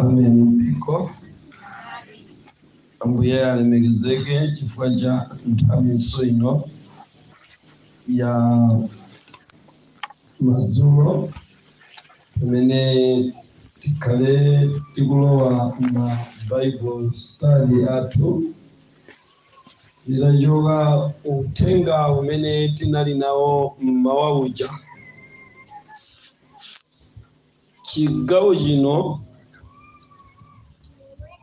Amen mpingo. Ambuye alemekezeke chifukwa cha nthawi ino ya madzulo pamene tikhale tikulowa ma Bible study athu Titachoka ku uthenga umene tinali nawo m'mawa uja, chigawo chino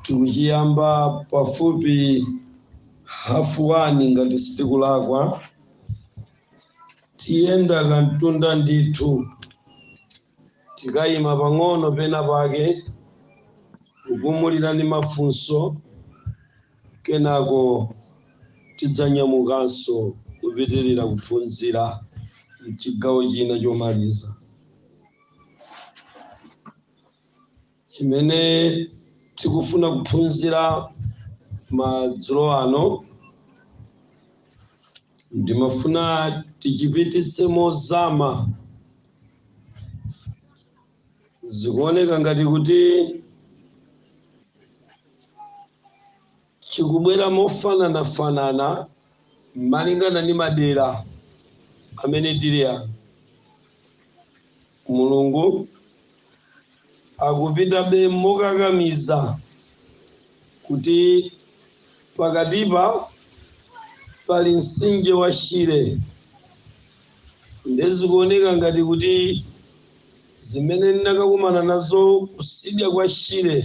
tikuchiyamba pafupi hafu wani ngati sitikulakwa. Tiyenda kamtunda ndithu. Tikayima pang'ono pena pake kupumulira ndi mafunso kenako tidzanyamukanso kupitilira kuphunzira mchigawo china chomaliza. chimene tikufuna kuphunzira madzulo ano ndimafuna tichipititse mozama zikuoneka ngati kuti chikubwera mofananafanana malingana ndi madera amene tili ano. Mulungu akupitabe mokakamiza kuti pakatipa pali mtsinje wa Shire nde zikuoneka ngati kuti zimene ndinakakumana nazo kusidya kwa Shire,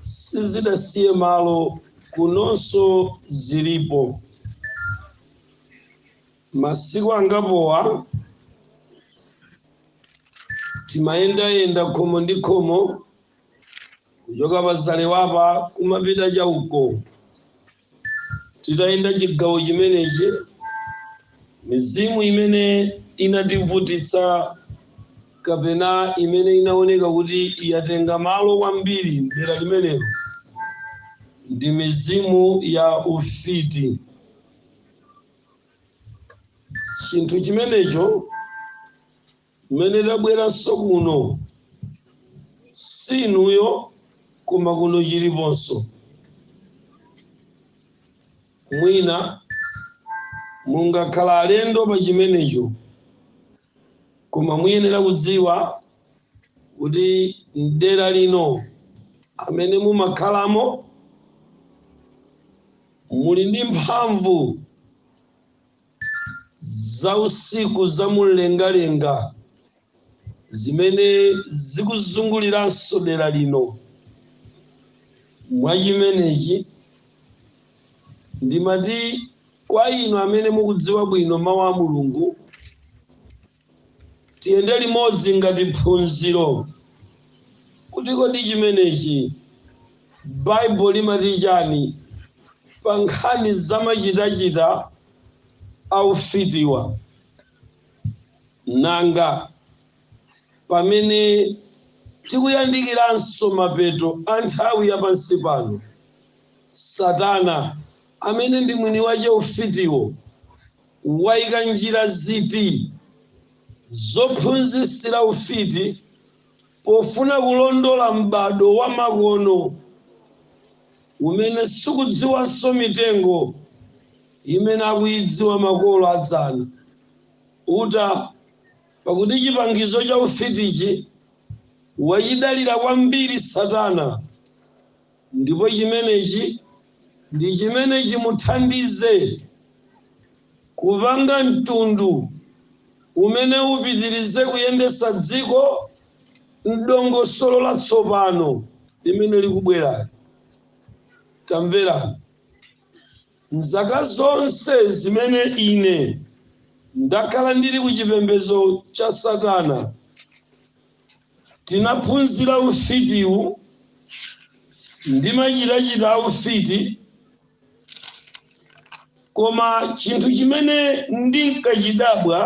sizidasiye malo kunonso zilipo masiku angapowa timayendayenda khomo ndi khomo kuchoka pa Zalewapa kumapita chauko Titayenda chigawo chimenechi, mizimu imene inativutitsa kapena imene inaoneka kuti yatenga malo kwambiri m'dera limenelo ndi mizimu ya ufiti. Chinthu chimenecho mmene tabweranso kuno si inuyo koma kuno chiliponso mwina mungakhala alendo pa chimenecho koma muyenera kudziwa kuti mdera lino amene mumakhalamo muli ndi mphamvu zausiku za mumlengalenga zimene zikuzunguliranso dera lino. Mwa chimenechi, ndimati kwa inu amene mukudziwa bwino Mawu a Mulungu, Tiyende limodzi ngati phunziro kuti kodi chimenechi Bible limati chani pa nkhani za machitachita a ufitiwa. Nanga pamene tikuyandikiranso mapeto a nthawi ya pansi pano, Satana amene ndi mwini wache ufitiwo, Waika njira ziti zophunzitsira ufiti pofuna kulondola m'badwo wamakono umene sikudziwanso mitengo imene akuidziwa makolo a dzana? Uta, Pakuti chipangizo cha ufitichi wachidalira kwambiri Satana. Ndipo chimenechi ndi chimene chimuthandize kupanga mtundu umene upitirize kuyendetsa dziko m'dongosolo latsopano limene likubwerali. Tamverani! M'zaka zonse zimene ine ndakhala ndili ku chipembedzo cha Satana, Tinaphunzira ufitiwu ndi machitachita a ufiti koma chinthu chimene ndinkachidabwa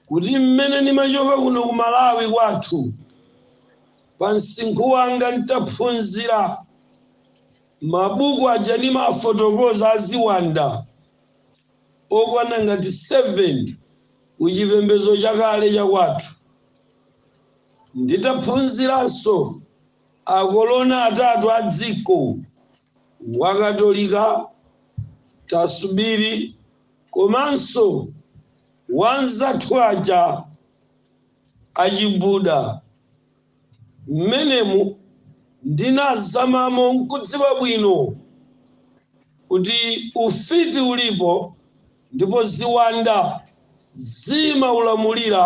kuti mmene nimachoka kuno ku Malawi kwathu pa msinkhu wanga n'taphunzira mabuku aja nimafotokoza a ziwanda okwana ngati 7 ku chipembedzo chakale cha kwathu. Nditaphunziranso akolona atatu a dziko, wa Katolika, Tasubiri komanso wa anzathu aja a Chibuda. Mmenemu ndinazamamo n'kudziwa bwino kuti ufiti ulipo ndipo ziwanda zimaulamulira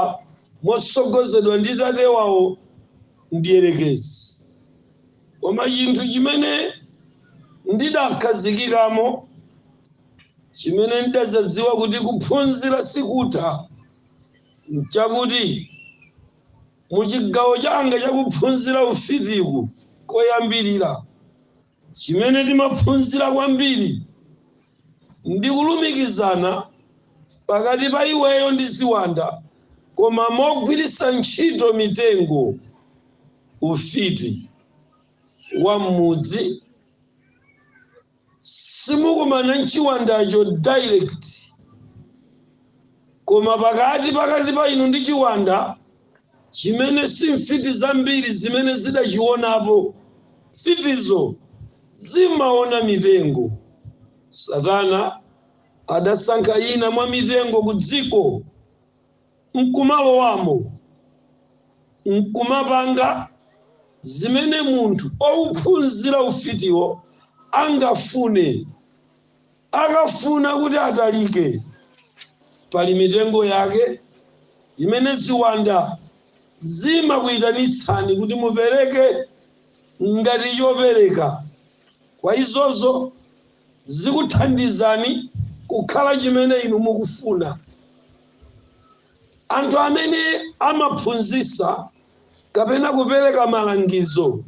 motsogozedwa ndi tate wawo Mdyerekezi. Koma chinthu chimene ndidakhazikikamo, chimene ndidadzadziwa kuti kuphunzira sikutha, nchakuti. Mu chigawo changa cha kuphunzira ufitiku koyambirira, chimene timaphunzira kwambiri ndi kulumikizana pakati pa iweyo ndi ziwanda koma mogwiritsa ntchito mitengo, ufiti wa m'mudzi, simukumana nchiwandacho direct koma pakati pakati pa inu ndi chiwanda chimene si mfiti zambiri zimene zidachiwonapo mfitizo zimaona mitengo satana adasankha ina mwa mitengo ku dziko nkumalowamo nkumapanga zimene munthu wophunzira ufitiwo angafune. Akafuna kuti atalike, pali mitengo yake imene ziwanda zimakuitanitsani kuti mupereke ngati chopereka kwa izozo. zikuthandizani kukhala chimene inu mukufuna. Anthu amene amaphunzitsa kapena kupereka malangizo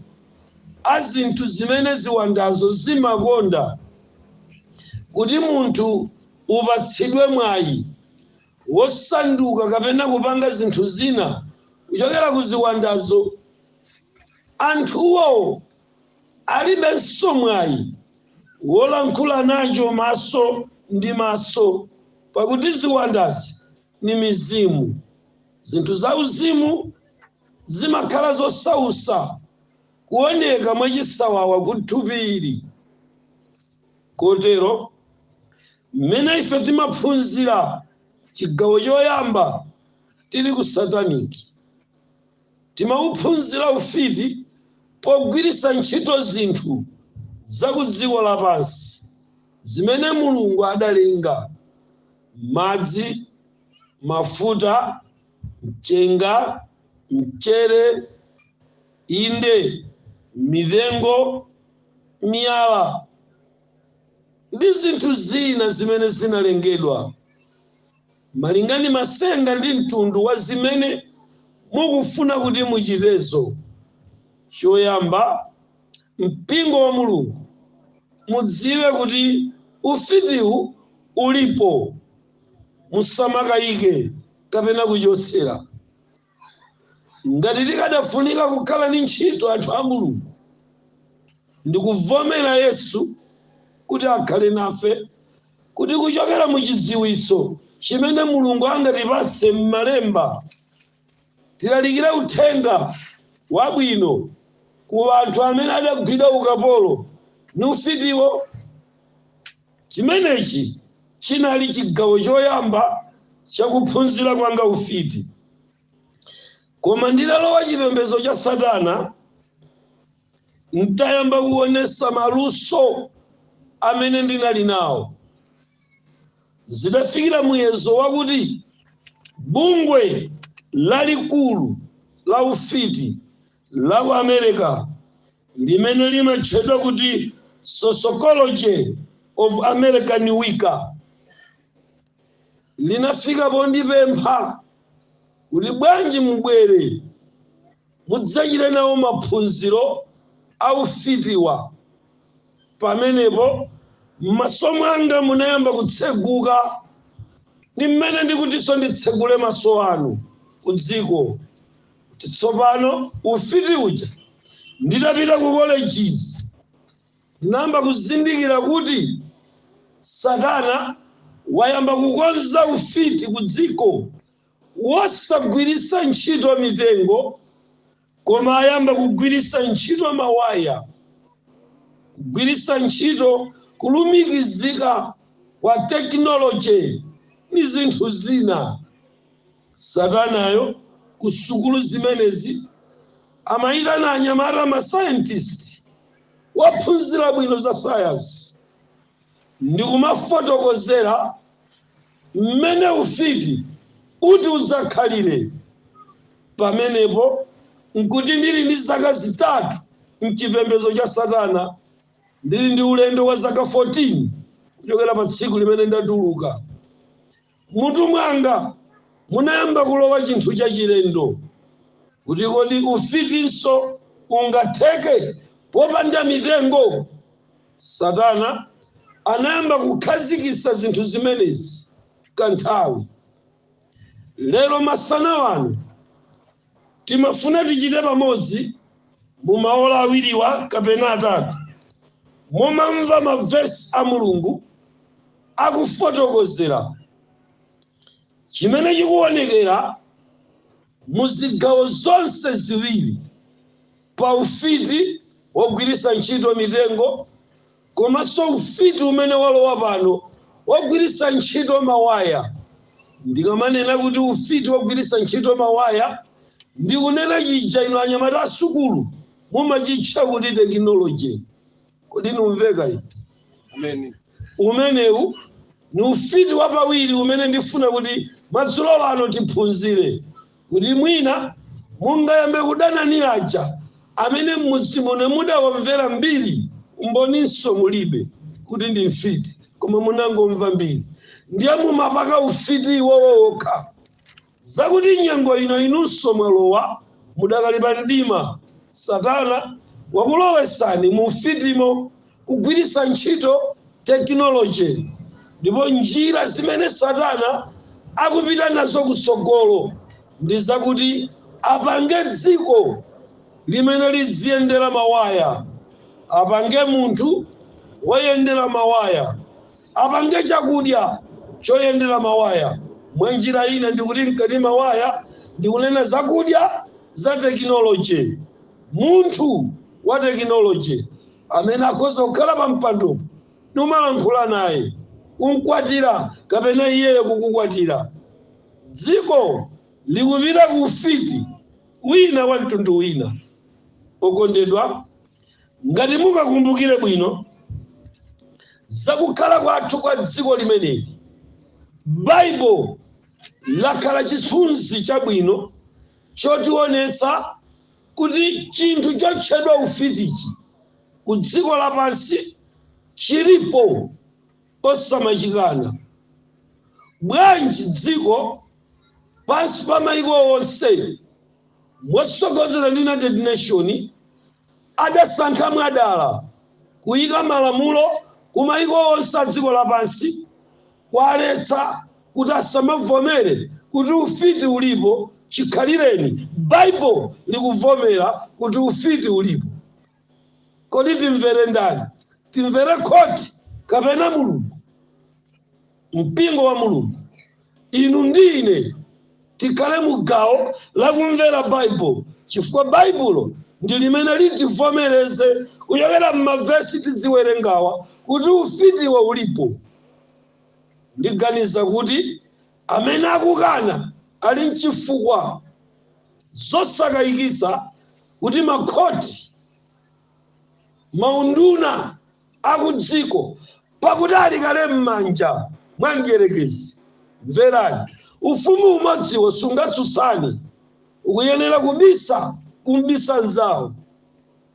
a zinthu zimene ziwandazo zimakonda kuti munthu upatsidwe mwayi wosanduka kapena kupanga zinthu zina kuchokera ku ziwandazo, anthuwo alibenso mwayi wolankhula nacho maso ndi maso, pakuti ziwandazi ni mizimu. Zinthu zauzimu zimakhala zosautsa kuoneka mwachisawawa ku thupi ili. Kotero, m'mene ife timaphunzira chigawo choyamba tili ku sataniki, Timauphunzira ufiti pogwiritsa ntchito zinthu za kudziko lapansi zimene Mulungu adalenga, madzi, mafuta, mchenga, mchere, inde, mitengo, miyala, ndi zinthu zina zimene zinalengedwa. Malingana masenga ndi mtundu wa zimene mukufuna kuti muchitezo, choyamba mpingo wa Mulungu mudziwe kuti ufitiwu ulipo. Musamakayike kapena kuchotsera Ngati tikadafunika kukhala ndi ntchito anthu a Mulungu ndikuvomera Yesu kuti akhale nafe kuti kuchokera mu chidziwitso chimene Mulungu angatipatse m'malemba tilalikire uthenga wabwino ku anthu amene adagwidwa ukapolo ni ufitiwo. Chimenechi chinali chigawo choyamba cha kuphunzira kwanga ufiti. Koma nditalowa chipembedzo cha Satana, n'tayamba kuonetsa maluso amene ndinali nawo, zidafikira muyezo wakuti bungwe lalikulu la ufiti la ku America limene limatchedwa kuti Sociology of American Wicca linafika pondipempha kuti bwanji mubwere mudzachite nawo maphunziro a ufitiwa. Pamenepo m'maso mwanga munayamba kutseguka, ndi mmene ndikutinso nditsegule maso anu ku dziko. kuti tsopano ufiti uja nditapita ku colleges ndinayamba kuzindikira kuti satana wayamba kukonza ufiti ku dziko wosagwiritsa ntchito mitengo koma ayamba kugwiritsa ntchito mawaya kugwiritsa ntchito kulumikizika kwa technology ni zinthu zina Satanayo ku sukulu zimenezi amaitana anyamata masayantisti ophunzira bwino za sayansi ndi kumafotokozera mmene ufiti uti udzakhalire. Pamenepo n'kuti ndili ndi zaka zitatu m'chipembedzo cha Satana. Ndili ndi ulendo wa zaka 14 kuchokera pa tsiku limene ndatuluka M'mutu mwanga munayamba kulowa chinthu chachilendo, kuti kodi ufitinso ungatheke popanda mitengo? Satana anayamba kukhazikitsa zinthu zimenezi kanthawi. Lero masana ano, timafuna tichite pamodzi mu maola awiriwa kapena atatu, momamva mavesi a Mulungu. akufotokozera chimene chikuwonekera mu zigawo zonse ziwiri pa ufiti wogwiritsa ntchito mitengo komanso ufiti umene walowa pano wogwiritsa ntchito mawaya. Ndikamanena kuti ufiti wogwiritsa ntchito mawaya ndikunena chija inu anyamata asukulu mumachitcha kuti tekinoloje. kodi ndikumveka eti amen umenewu ni ufiti wapawiri umene ndifuna kuti madzulo ano tiphunzire kuti mwina mungayambe kudana ni aja amene m'mudzi muno mudawamvera mbiri umboninso mulibe kuti ndi mfiti koma munangomva mbiri ndiye mumapaka ufiti iwowo wokha Zakuti nyengo ino inunso mwalowa mudakali pa mdima, Satana wakulowetsani mu ufitimo kugwiritsa ntchito tekinoloje ndipo njira zimene Satana akupita nazo kutsogolo ndi zakuti apange dziko limene lidziyendera mawaya, apange munthu woyendera mawaya. apange chakudya choyendera mawaya. Mwanjira ina ndikuti nkati mawaya ndikunena zakudya za tekinoloje. Munthu wa tekinoloje amene akhoza kukhala pa mpando numalankhula naye, kumkwatira kapena iyeyo kukukwatira. Dziko likupita ku ufiti wina wa mtundu wina. Okondedwa. Ngati mungakumbukire bwino za kukhala kwathu kwa dziko limeneli, Baibulo lakhala chithunzi chabwino chotionetsa kuti chinthu chotchedwa ufitichi ku dziko lapansi chilipo osamachikana. Bwanji dziko pansi pa mayiko onse motsogozedwa ndi United Nation, adasankha mwadala kuika malamulo ku maiko onse a dziko lapansi kuwaletsa kuti asamavomere kuti ufiti ulipo chikhalireni Bible likuvomera kuti ufiti ulipo. Kodi timvere ndani? Timvere khoti kapena Mulungu? Mpingo wa Mulungu, inu ndi ine tikhale mu gawo la kumvera Baibulo, chifukwa Baibulo ndi limene litivomereze kuchokera m'mavesi tidziwerengawa kuti ufitiwo ulipo. Ndiganiza kuti amene akukana ali nchifukwa zosakayikitsa kuti makhoti, maunduna akudziko, pakuti ali kale m'manja mwa Mdyerekezi. Mverani, ufumu umodziwo sungatsutsane, ukuyenera kubisa kumbisa mzawo.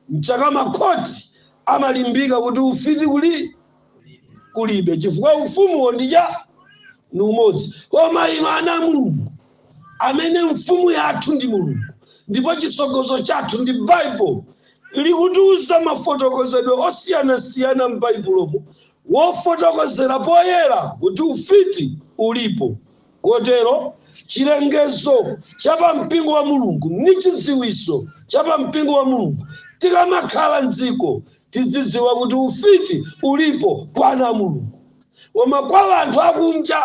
Nchake makhoti amalimbika kuti ufiti kuli kulibe chifukwa ufumuwo ndiye. ndi umodzi koma inu ana a mulungu amene mfumu yathu ndi mulungu ndipo chisogozo chathu ndi baibulo likutiuza mafotokozedwe osiyanasiyana m'baibulomo wofotokozera poyera kuti ufiti ulipo kotero chilengezo cha pampingo wa mulungu ndi chidziwiso cha pampingo wa mulungu tikamakhala mdziko tidzidziwa kuti ufiti ulipo kwa ana a mulungu Koma kwa anthu akunja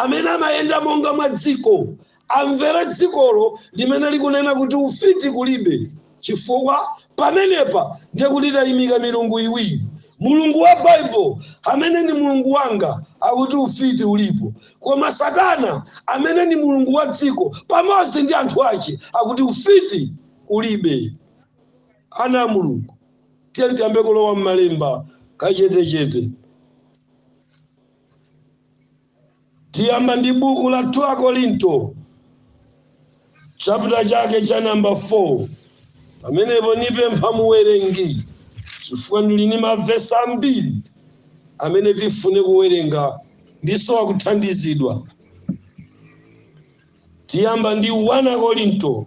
amene amayenda monga mwa dziko, amvera dzikolo limene likunena kuti ufiti kulibe, chifukwa pamenepa ndiye kuti taimika milungu iwiri, Mulungu wa Bible amene ndi Mulungu wanga akuti ufiti ulipo, koma Satana amene ndi mulungu wa dziko pamodzi ndi anthu ache akuti ufiti kulibe. Ana a Mulungu, tiye tiyambe kulowa m'malemba kachetechete. Tiyamba ndi buku la 2 Akorinto chapter chake cha namba 4 pamenepo nipempha muwerengi chifukwa ndili ni mavesi ambiri amene tifune kuwerenga ndisowa kuthandizidwa. Tiyamba ndi 1 Akorinto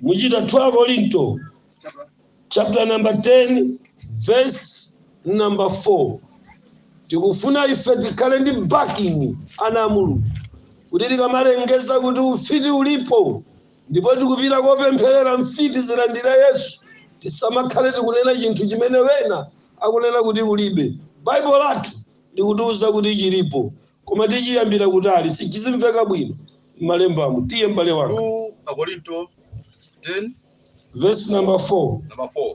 muchita 2 akorinto chapter number 10 verse number 4 tikufuna ife tikhale ndi backing ana a mulungu kuti tikamalengeza kuti ufiti ulipo ndipo tikupita kopempherera mfiti zilandire yesu tisamakhale tikunena chinthu chimene wena akunena kuti kulibe baibo lathu likutiuza kuti chilipo Koma tichiyambira kutali, kuti chizimveka bwino m'malembamo. Tiye m'bale wanga. 2 Akorinto 10 Vesi namba 4. namba 4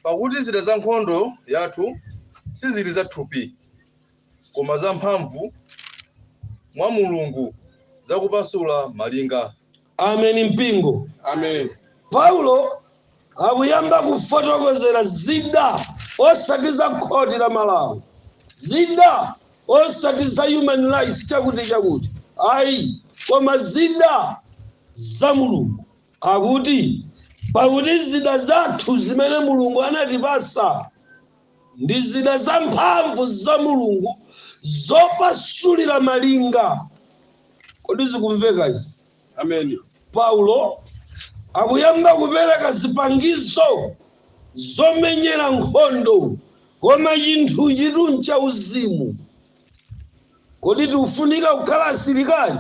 pakuti zida za nkhondo yathu sizili za thupi koma za mphamvu mwa mulungu zakupasula malinga Ameni mpingo. Amen. Paulo akuyamba kufotokozera zida osati za khoti la Malawi, zida osati za human rights chakuti chakuti, ayi, koma zida za Mulungu. Akuti pakuti zida zathu zimene Mulungu anatipasa ndi zida za mphamvu za Mulungu zopasulira malinga. Kodi zikumveka izi? Amen. Paulo akuyamba kupereka zipangizo zomenyera nkhondo, koma chinthuchitu nchauzimu. Kodi tikufunika kukhala asilikali?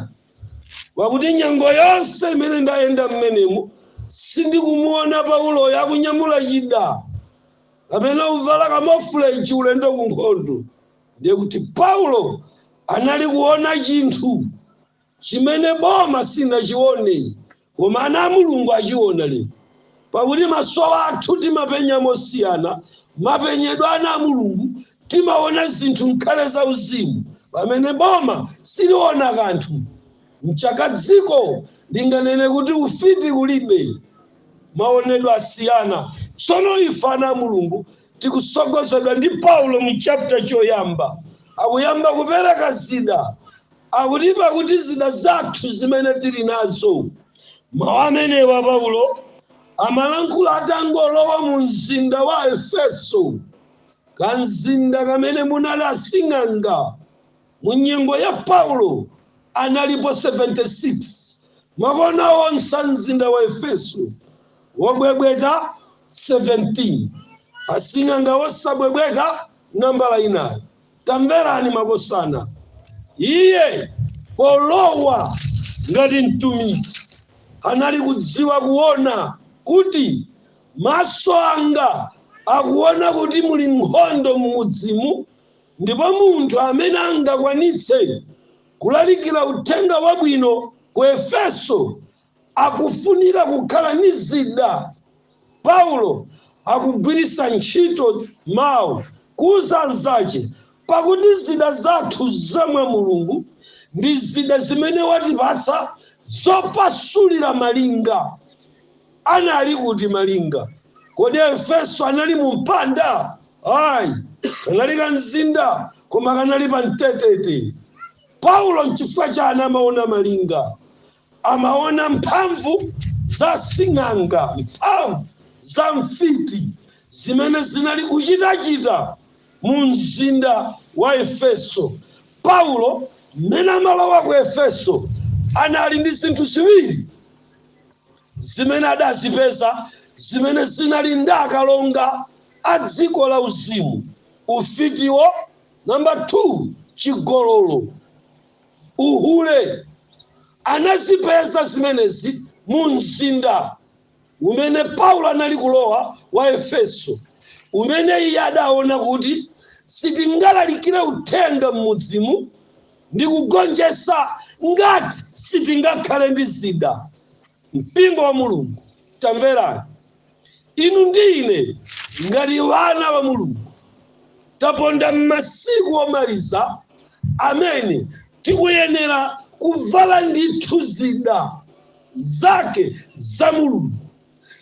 Pakuti nyengo yonse imene ndayenda mmenemo sindikumuona Pauloyo akunyamula chida kapena kuvala kamofuleji ulendo ku nkhondo, ndiye kuti Paulo anali kuona chinthu chimene boma sinachione koma ana a Mulungu achiona lero. Pakuti maso athu timapenya mosiyana mapenyedwe a ana a Mulungu, timaona zinthu mkhale za uzimu pamene boma siliona kanthu. Mchaka dziko linganene kuti ufiti kulibe. maonedwe asiyana. Tsono ife ana a Mulungu tikusogozedwa ndi Paulo mu chapter choyamba akuyamba kupereka zida akuti pakuti zida zathu zimene tili nazo. Mawu amenewa Paulo amalankhula atangolowa mu mzinda wa Efeso, kamzinda kamene munali asing'anga Mu nyengo ya Paulo, analipo 76. Makona onse a mzinda wa Efeso wobwebweta 17. Asing'anga wosabwebweta nambala inayo. Tamverani makosana. Iye polowa ngati mtumiki anali kudziwa kuona kuti maso anga akuona kuti muli nkhondo m'mudzimu Ndipo munthu amene angakwanitse kulalikira uthenga wabwino ku Efeso, akufunika kukhala ni zida. Paulo akugwiritsa ntchito mawu kuuza anzache, Pakuti zida zathu za mwa Mulungu ndi zida zimene watipatsa zopasulira malinga. Anali kuti malinga? Kodi Efeso anali mu mpanda? Ayi, kanali ka mzinda koma kanali pa mtetete. Paulo nchifukwa chani amaona malinga? Amaona mphamvu za sing'anga, mphamvu za mfiti zimene zinali kuchitachita mu mzinda wa Efeso. Paulo mmene amalowa ku Efeso anali ndi zinthu ziwiri. zimene adazipeza zimene zinali ndi akalonga a dziko la uzimu, ufitiwo, number 2, chigololo, uhule, anazipeza zimenezi mu mzinda umene Paulo anali kulowa wa Efeso, umene iye adaona kuti sitingalalikire uthenga m'mudzimu, ndi kugonjetsa ngati sitingakhale ndi zida. Mpingo wa Mulungu, tamverani. Inu ndi ine, ngati wana wa Mulungu, taponda m'masiku omaliza amene tikuyenera kuvala ndithu zida zake za Mulungu.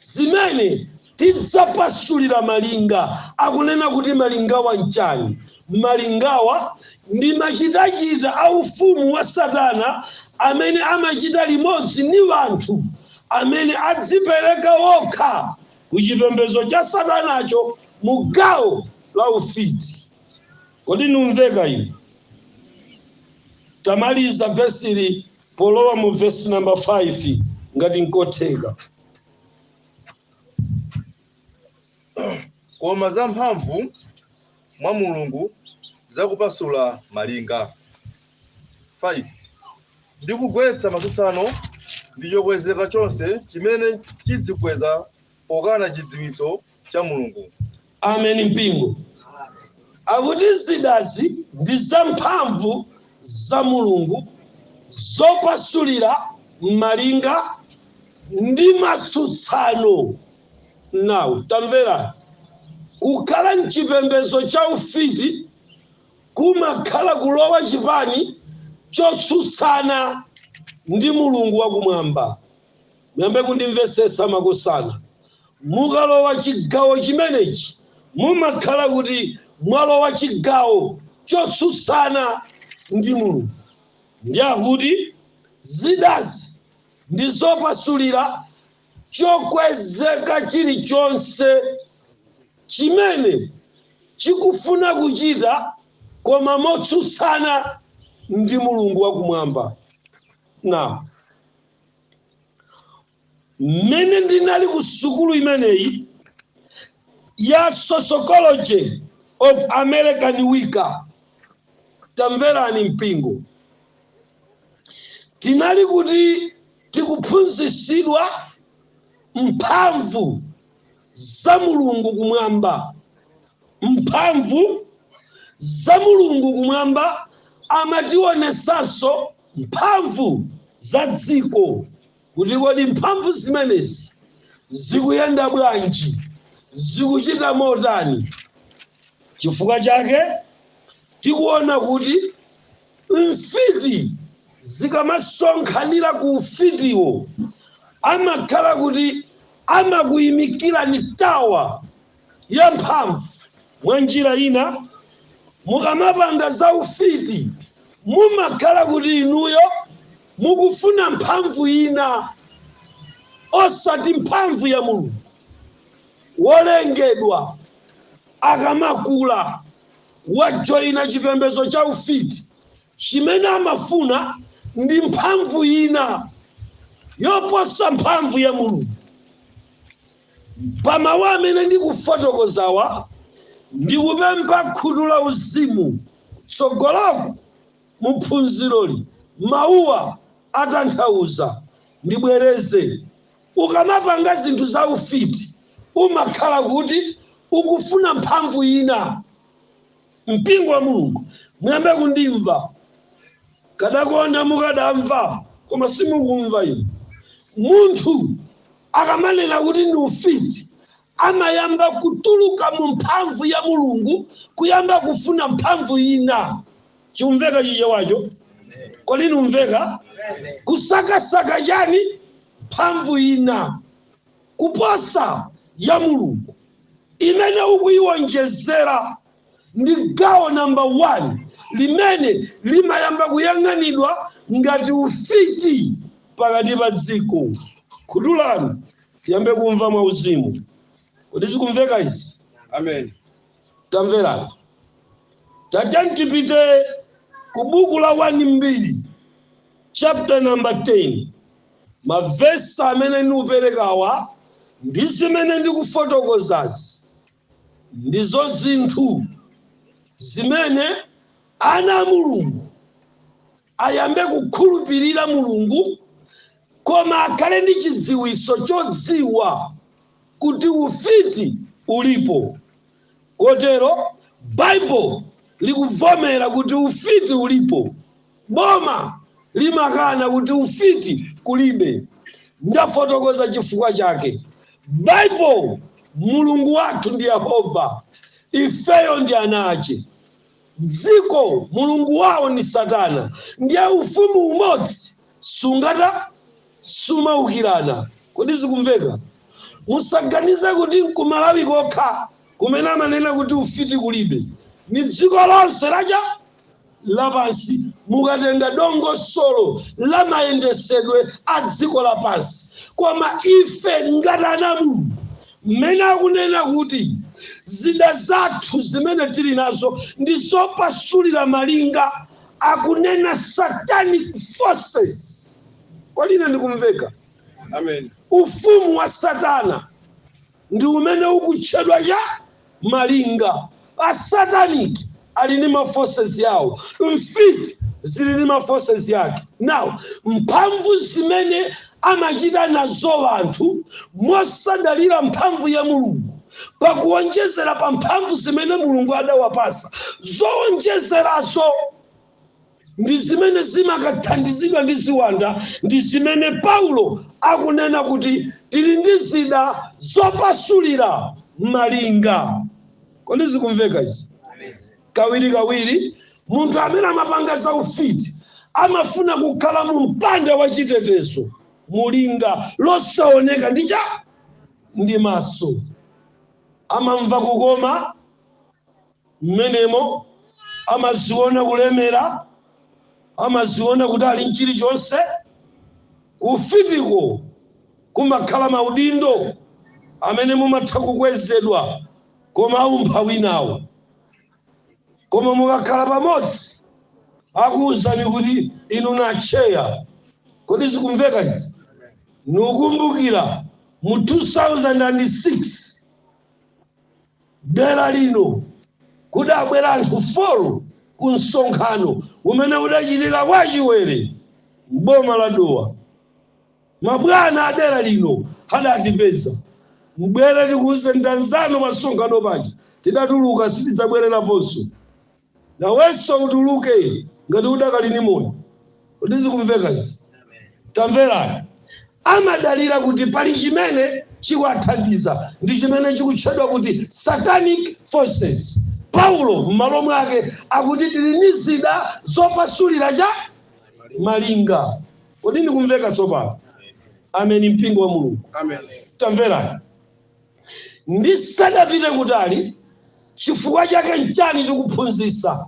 zimene tidzapasulira malinga akunena kuti malingawa n'chani? Malingawa ndi machitachita a ufumu wa satana amene amachita limodzi ndi wanthu amene adzipereka wokha ku chipembedzo cha satanacho mu gawo la ufiti. Kodi numveka inu? Tamaliza vesili Polowa mu vesi number 5, ngati nkotheka. Koma za mphamvu mwa Mulungu za kupasula malinga, 5 ndi kugwetsa matsutsano ndi chokwezeka chonse chimene chidzikweza pokana chidziwitso cha Mulungu. Amen mpingo. Akuti zidazi ndi za mphamvu za Mulungu zopasulira malinga ndi matsutsano. Now tamvera, kukhala mchipembedzo cha ufiti kumakhala kulowa chipani chotsutsana ndi Mulungu wakumwamba. muyambe kundimvetsetsa makosana mukalowa chigawo chimenechi mumakhala kuti mwalowa chigawo chotsutsana ndi mulungu ndi akuti zidazi ndi zopasulira chokwezeka chilichonse chimene chikufuna kuchita koma motsutsana ndi mulungu wakumwamba now mmene ndinali ku sukulu imeneyi ya sociology of american wicca tamverani mpingo tinali kuti tikuphunzitsidwa mphamvu za mulungu kumwamba mphamvu za mulungu kumwamba amatiwonetsanso mphamvu za dziko kuti kodi mphamvu zimenezi zikuyenda bwanji, zikuchita motani. Chifukwa chake tikuona kuti mfiti zikamasonkhanira ku ufitiwo amakhala kuti amakuimikirani tower yamphamvu. Mwanjira ina, mukamapanga za ufiti mumakhala kuti inuyo mukufuna mphamvu ina osati mphamvu ya Mulungu. Wolengedwa akamakula wajoyina chipembedzo cha ufiti, chimene amafuna ndi mphamvu ina yoposa mphamvu ya Mulungu. Pa mawu amene ndikufotokozawa, ndikupempha khutu la uzimu tsogoloko mu phunziroli mawuwa atanthauza. Ndibwereze, Ukamapanga zinthu za ufiti umakhala kuti ukufuna mphamvu ina. Mpingo wa Mulungu muyambe kundimva. Kadakonda mukadamva koma simukumva inu. Munthu. Akamanena kuti ndi ufiti, amayamba kutuluka mu mphamvu ya Mulungu kuyamba kufuna mphamvu ina. Chikumveka Chichewacho? Kodi ndikumveka? Kusakasaka chani? Mphamvu ina kuposa ya Mulungu imene ukuyiwonjezera. ndi gawo namba 1 limene limayamba kuyang'anidwa ngati ufiti pakati pa dziko khutu lanu tiyambe kumva mwa uzimu kodi zikumveka izi Amen. tamverani tatiyeni tipite ku buku la 1 mbiri chapter number 10 mavesi amene ndikuperekawa ndi zimene ndikufotokozazi Ndizo zinthu zimene ana a Mulungu ayambe kukhulupirira Mulungu, koma akhale ndi chidziwitso chodziwa kuti ufiti ulipo. Kotero Baibulo likuvomera kuti ufiti ulipo. Boma limakana kuti ufiti kulibe. Ndafotokoza chifukwa chake. Baibo, Mulungu wathu ndi Yehova, ifeyo ndi ana ache. Dziko, mulungu wawo ni Satana, ndiye ufumu umodzi sungatha, sumaukirana. Kodi zikumveka? Musaganize kuti n'kumalawi kokha kumene amanena kuti ufiti kulibe. Ni dziko lonse la cha? lapansi, mukatenga dongosolo la mayendesedwe a dziko lapansi. Koma ife ngati ana a Mulungu, mmene akunena kuti zida zathu zimene tili nazo ndi zopasulira malinga, akunena satanic forces. Kodi ine ndikumveka? Amen. Ufumu wa Satana. ndi umene ukutchedwa cha malinga. A satanic ali ndi ma forces yawo, mfiti zili ndi ma forces yake. Now mphamvu zimene amachita nazo anthu mosadalira mphamvu ya Mulungu pakuonjezera pa mphamvu zimene Mulungu adawapasa zoonjezerazo, ndi zimene zimakathandizidwa ndi ziwanda ndi zimene Paulo akunena kuti tili ndi zida zopasulira malinga kodi zikumveka izi kawirikawiri munthu amene amapanga za ufiti amafuna kukhala mu mpanda wa chitetezo mulinga losaoneka ndi cha ndi maso amamva kukoma mmenemo, amaziona kulemera, amaziona kuti ali ndi chilichonse. Kufitiko kumakhala maudindo amene mumatha kukwezedwa, koma aumphawi nawo. Koma mukakhala pamodzi, akuuzani kuti inu ndi a tcheya. Kodi zikumveka izi? Nukumbukira mu 2006 Dera lino kudabwera anthu 4 ku msonkhano umene udachitika kwa Chiwere m'boma la Dowa. Mabwana a dera lino adatipeza. Mbwere tikuuze nda anzanu pa msonkhano paja tidatuluka sitidzabwereraponso. Nawenso utuluke ngati udakali ndi moyo. Kodi zikumveka izi? Tamverani. Amadalira kuti pali chimene chikuwathandiza ndi chimene chikutchedwa kuti satanic forces. Paulo m'malo mwake akuti tili ndi zida zopasulira cha malinga. Kodi ndikumveka tsopano? Amen mpingo wa Mulungu. Tamverani. Ndisadapite kutali, chifukwa chake nchani tikuphunzitsa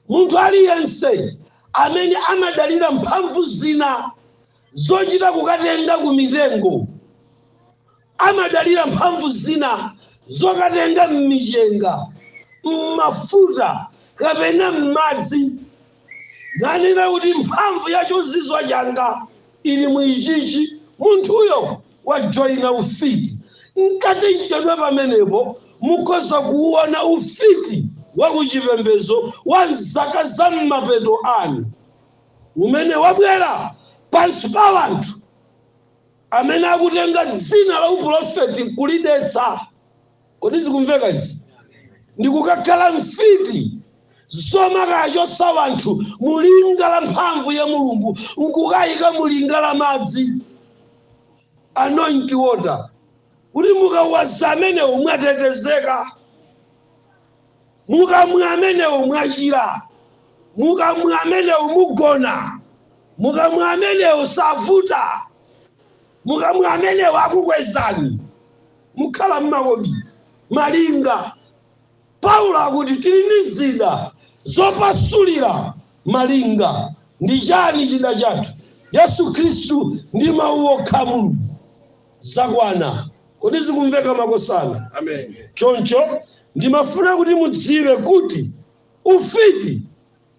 munthu aliyense amene amadalira mphamvu zina zochita kukatenga ku mitengo, amadalira mphamvu zina zokatenga m'michenga, m'mafuta kapena m'madzi, nanena kuti mphamvu ya chozizwa changa ili mu ichichi? Munthuyo. wajoina ufiti mkati mochedwa pamenepo mukhoza kuuona ufiti wa ku chipembedzo wa mzaka za mmapeto ano umene wabwera pansi pa anthu amene akutenga dzina la uprofeti nkulidetsa Kodi zikumveka izi? Ndi kukakhala mfiti zomakawachotsa wanthu mu linga la mphamvu ya Mulungu nkukayika mu linga la madzi anointing water kuti mukawaza amenewo mwatetezeka, mukamwa amenewo mwachira, mukamwa amenewo mugona, mukamwa amenewo savuta, mukamwa amenewo akukwezani. mukhala m'makobi malinga. Paulo akuti tili ndi zida zopasulira malinga. Ndi chani chida chathu? Yesu Khristu ndi Mau okha a Mulungu. Zakwana. Kodi zikumveka makosana? Amen. Choncho ndimafuna kuti mudziwe kuti ufiti.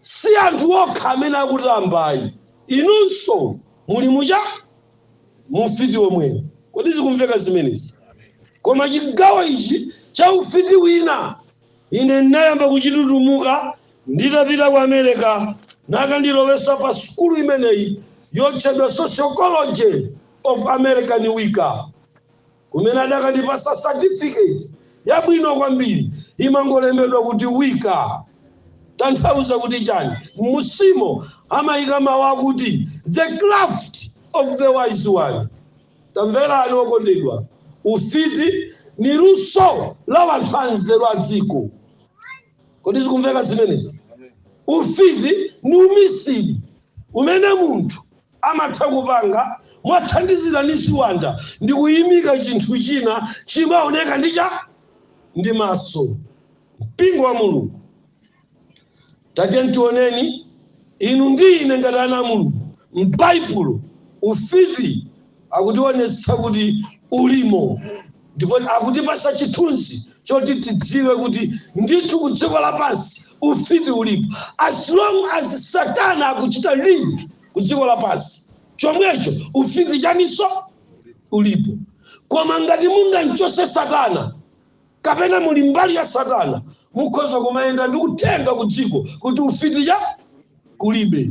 Si anthu okha amene akutamba ayi, inunso muli mu chani? mu ufiti womwewo. Kodi zikumveka zimenezi? Koma chigawo ichi cha ufiti wina ine ndinayamba kuchitutumuka nditapita ku America nakandilowesa pa sukulu imeneyi yotchedwa Sociology of American Wicca. kumene adakandipasa certificate yabwino kwambiri imangolembedwa kuti Wicca tanthauza kuti chani mmunsimo amayika mawu akuti the craft of the wise one tamverani okondedwa ufiti ni luso la wanthu anzeru a dziko kodi zikumveka zimenezi ufiti ni umisiri umene munthu amatha kupanga mwathandizira ni ziwanda ndi kuyimika chinthu china chimaoneka ndi chani ndi maso mpingo wa mulungu tatiyeni tioneni inu ndi ine ngati ana a mulungu m'baibulo ufiti Akutionetsa kuti ulimo ndipo akutipasa chithunzi choti tidziwe kuti ndithu ku dziko lapansi ufiti ulipo as long as satana akuchita live ku dziko lapansi chomwecho ufiti chaninso ulipo koma ngati mungamchotse satana kapena muli mbali ya satana mukhoza kumayenda ndi uthenga ku dziko kuti ufiti chani kulibe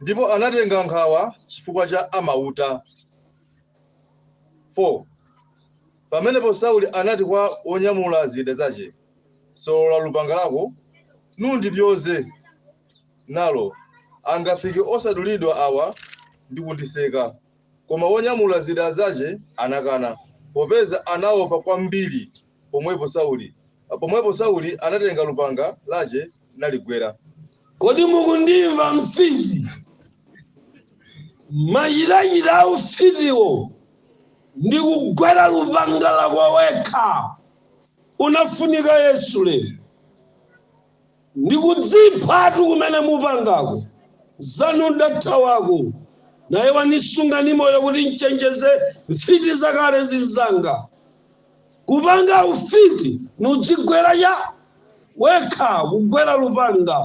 ndipo anatenga nkhawa chifukwa cha amauta. 4 pamenepo Sauli anati kwa wonyamula zida zace, Solola lupanga lako, nundipyoze nalo, angafike osadulidwa awa ndi kundiseka. Koma wonyamula zida zace anakana, popeza anaopa kwambiri. pomwepo Sauli pomwepo Sauli anatenga lupanga lace naligwera. Kodi mukundimva mfiti? Machitachita a ufitiwo ndi kugwera lupanga lako wekha ukufunika Yesu lero? Ndi kudziphatu kumene mupangako anzanu ndathawako ine wanisunga ni moyo kuti nchenjeze mfiti zakale zinzanga. kupanga ufiti n'kudzigwera cha wekha kugwera lupanga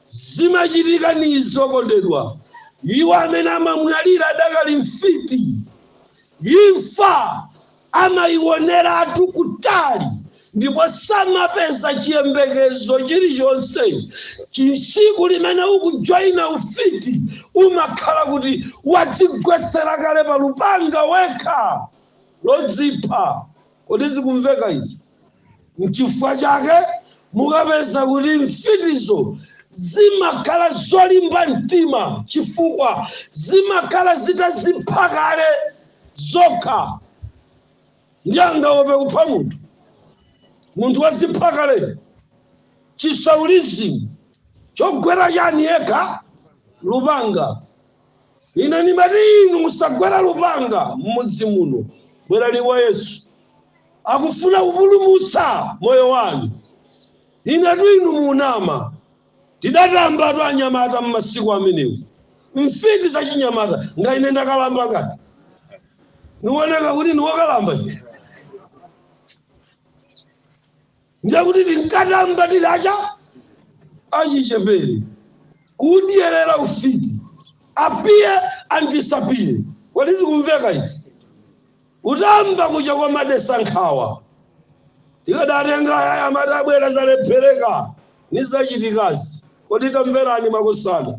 zimachitika n'izo okondedwa iwo amene amamwalira adakali mfiti imfa amaioneratu kutali ndipo samapeza chiyembekezo chilichonse chisiku limene ukujoyina ufiti umakhala kuti wadzigwetsera kale pa lupanga wekha lodzipha. Kodi zikumveka izi? Nchifukwa chake mukapeza kuti mfitizo zimakhala zolimba mtima chifukwa zimakhala zitazipha kale zokha. Ndiye angaope kupha munthu? Munthu wazipha kale. Chisaulizimu chogwera chani yekha? Lupanga. Ine ndimati inu musagwere lupanga mmudzi muno. Bwerani kwa Yesu. Akufuna kupulumutsa moyo wanu. Inetu inu munama. Tidatambatu anyamata mmasiku amenewo. Mfiti zachinyamata ngati ine ndakalamba ngati. Niwoneka kuti niwokalamba ine. ndiye kuti tinkatamba tidakali achichepere kudyerera ufiti appear and disappear kodi zikumveka izi kutamba kuja kwa madesa nkhawa tikadatenga aya amati abwera zalephereka ni zachitikazi kodi tamverani makosana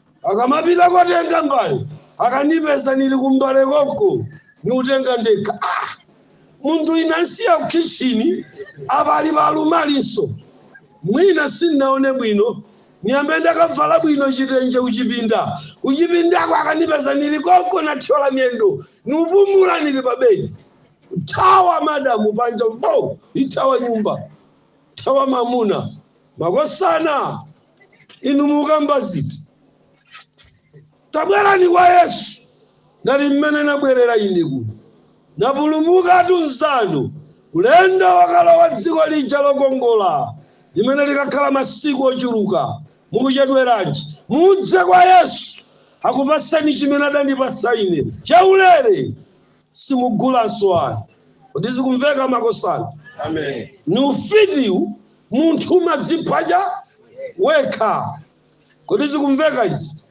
akamapita kotenga mbale akanipeza nili kumbale konko niutenga ndekha ah! munthu ine nansiya kukhitchini apa ali palumalinso mwina sindinaone bwino niyambe ndakavala bwino chitenje kuchipinda kuchipindako akanipeza nili konko nathyola miyendo niupumula nili pabedi thawa madamu panja mbo ithawa nyumba thawa mamuna makosana inu mukamba ziti tabwerani kwa yesu ngati mmene nabwerera ine kuno ndapulumukatu mnzanu ulendo wokalowa dziko lija lokongola limene likakhala masiku ochuluka mukuchedweranji mudze kwa yesu akupaseni chimene adandipasa ine chaulere simugulanso ayi kodi zikumveka makosana Amen. ni ufitiwu munthu umadziphatsa wekha kodi zikumveka izi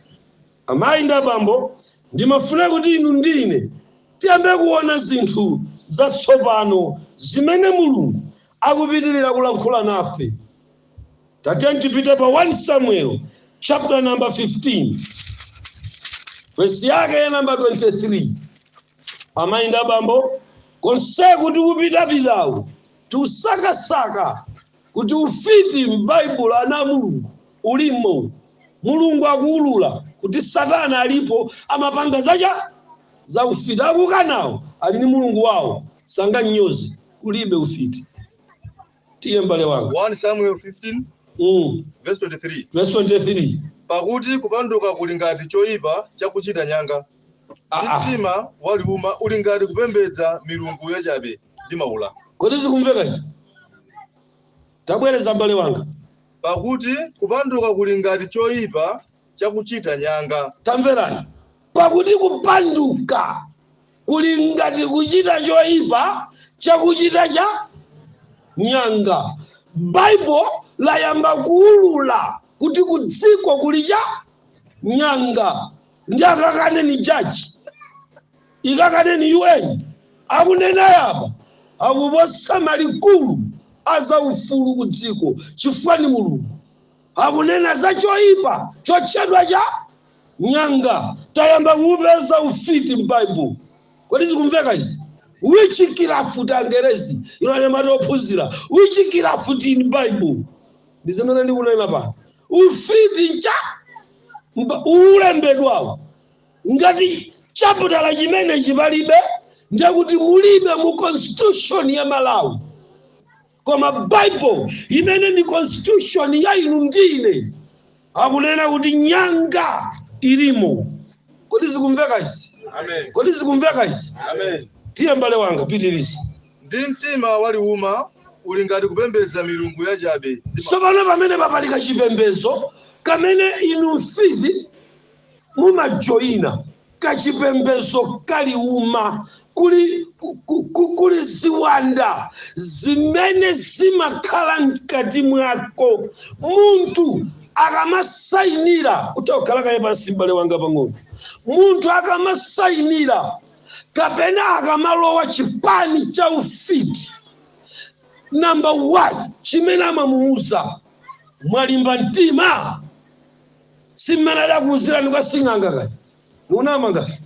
amayi ndi abambo ndimafuna kuti inu ndi ine tiyambe kuona zinthu zatsopano zimene mulungu akupitirira kulankhula nafe Tatiyeni tipite pa 1 Samuel chapter number 15 verse yake ya namba 23 amayi ndi abambo konseku tikupitapitaku tikusakasaka kuti ufiti m'baibulo ana a mulungu ulimo mulungu akuwulula kuti satana alipo amapanga zace za ufiti akukanawo ali ndi mulungu wawo sanganyoze kulibe ufiti tiye mbale wanga 1 Samuel 15 mm. verse 23. verse 23 Pakuti kupanduka kuli ngati choyipa chakuchita nyanga. Ah, ah. Mtima waliuma uli ngati kupembedza milungu yachabe ndi maula. kodi zikumveka izi tabwereza mbale wanga Pakuti kupanduka kuli ngati choyipa chakuchita nyanga. tamverani pakuti kupanduka kuli ngati kuchita choipa chakuchita cha nyanga. Baibo layamba kuulula kuti kudziko kuli cha nyanga ndi akakane ni jaji ikakane ni UN akunena yapa akuposa akuluakulu a zaufulu ku dziko chifukwa ni Mulungu akunena za choipa chotchedwa cha nyanga tayamba kuupeza ufiti m'bible kodi zikumveka izi witchcraft angerezi inu anyamata ophunzira witchcraft in bible ndi zimene ndikunena pano ufiti ncha ulembedwawo ngati chaputala chimenechi palibe ndekuti mulibe mu constitution ya malawi koma bible imene ndi constitution ya inu ndine akunena kuti nyanga ilimo kodi zikumveka izi Amen. kodi zikumveka izi Amen. tiye mbale wanga pitiriza Ndi mtima waliuma uli ngati kupembedza milungu yachabe. tsopano pamene papalika chipembedzo chimene inu mfiti mumajoyina kachipembedzo ka liuma kuli, ku- ku- ku- kuli ziwanda zimene zimakhala mkati mwako munthu akamasayinira kuti khala kaye pansi mbale wanga pang'ono munthu akamasayinira kapena akamalowa chipani cha ufiti namba 1 chimene amamuuza mwalimba mtima si mmene adakuuzirani kwa sing'anga kaya munama ngati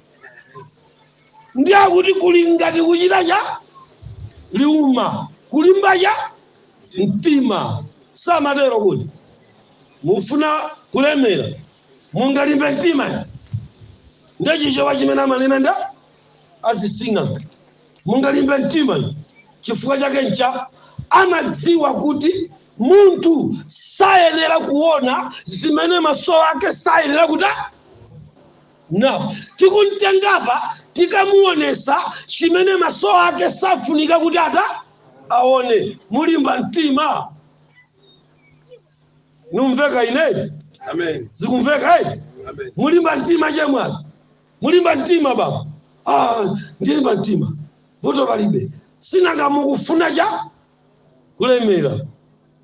ndi akuti kuli ngati kuchita cha liuma kulimba cha mtima samatero kuti mufuna kulemera mungalimbe mtima ndi Chichewa chimene amanena ndi asing'anga mungalimbe mtima chifukwa chake ncha amadziwa kuti Munthu sayenera kuona zimene maso ake sayenera kutani tikumtengapa tikamuonesa chimene maso ake safunika kuti ata aone mulimba mtima ndikumveka inedi Amen. zikumveka edi Amen. mulimba mtima chemwali mulimba mtima baba ah, ndilimba mtima vuto palibe si nanga mukufuna cha kulemera.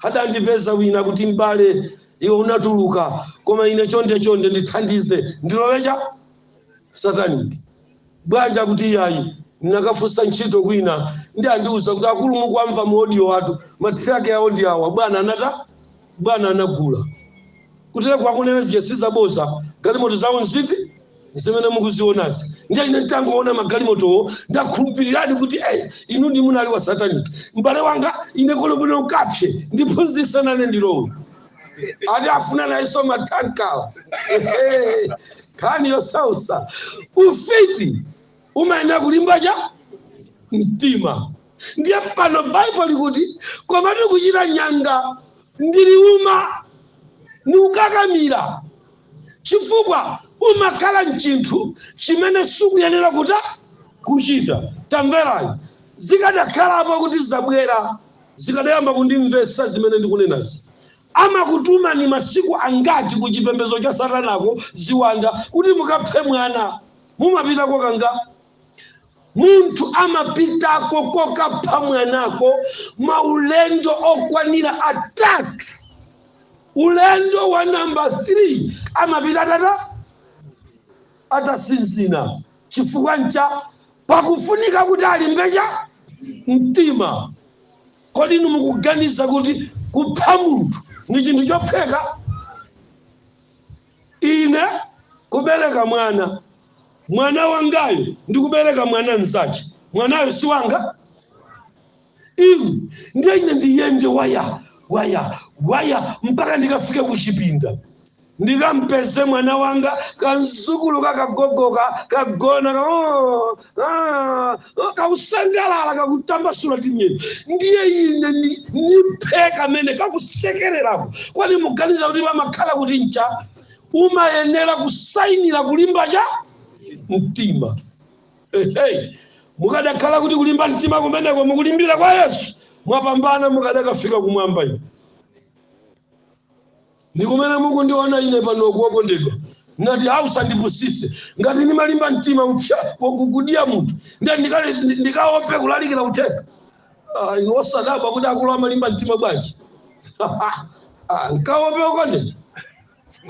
Adandipeza wina kuti, M'bale, iwe unatuluka, koma ine chonde chonde ndithandize ndilowe cha satanic bwanji akuti iyayi ndinakafunsa ntchito kwina ndiye andiuza kuti akulu mukuamva mu audio athu mathiraki awo ndi awa bwana anata bwana anagula. Kutereku akunena zija si zaboza, galimoto zawo ndi izi zimene mukuzionazi. Ndiye ine nditangoona magalimotowo ndakhulupiriradi kuti eh, inudi munali wa satanic. M'bale wanga ine kolowera komwe ndiphunzitse nane ndilowe ati afuna nayenso matankala nkhani yosautsa ufiti umayenera kulimba cha mtima ndiye pano baibulo likuti komatu kuchita nyanga ndi liuma ndi kukakamira chifukwa umakhala mchinthu chimene sukuyenera kuta kuchita tamverani zikadakhalapo kuti zabwera zikadayamba kundimvetsa zimene ndikunenazi amakutumani masiku angati ku chipembedzo cha satanako ziwanda kuti mukaphe mwana Mumapitako kangati? Munthu amapitako kokapha mwanako maulendo okwanira atatu. Ulendo wa namba 3 amapita atata atasinzina chifukwa ncha pakufunika kuti alimbe cha mtima. Kodi inu mukuganiza kuti kupha munthu ndi chinthu chophweka? Ine kubereka mwana, mwana wangayo, ndi kubereka mwana mnzache, mwanayo si wanga? Im, ndiye ine ndiyende waya waya waya mpaka ndikafike ku chipinda ndikampeze mwana wanga kamdzukulu kakagogoka kagona ka, oh, Ah, kakusangalala kakutambasula timiyendo ndiye ine ni- niphe kamene kakusekererako kodi muganiza kuti pamakhala kuti ncha umayenera kusainira kulimba cha mtima Ehe. mukadakhala kuti kulimba mtima kumeneko mukulimbira kwa yesu mwapambana mukadakafika kumwamba inu Ndi kumene mukundiona ine panoku, wokondedwa. Ndinati, Ha, usandipusitse. Ngati ndimalimba mtima kupha wokukudyera munthu, ndiye ndikale, ndi- ndikaope kulalikira uthenga. Ah, inu osadabwa kuti akuluwa amalimba mtima bwanji? Ah, nkaope wokondedwa.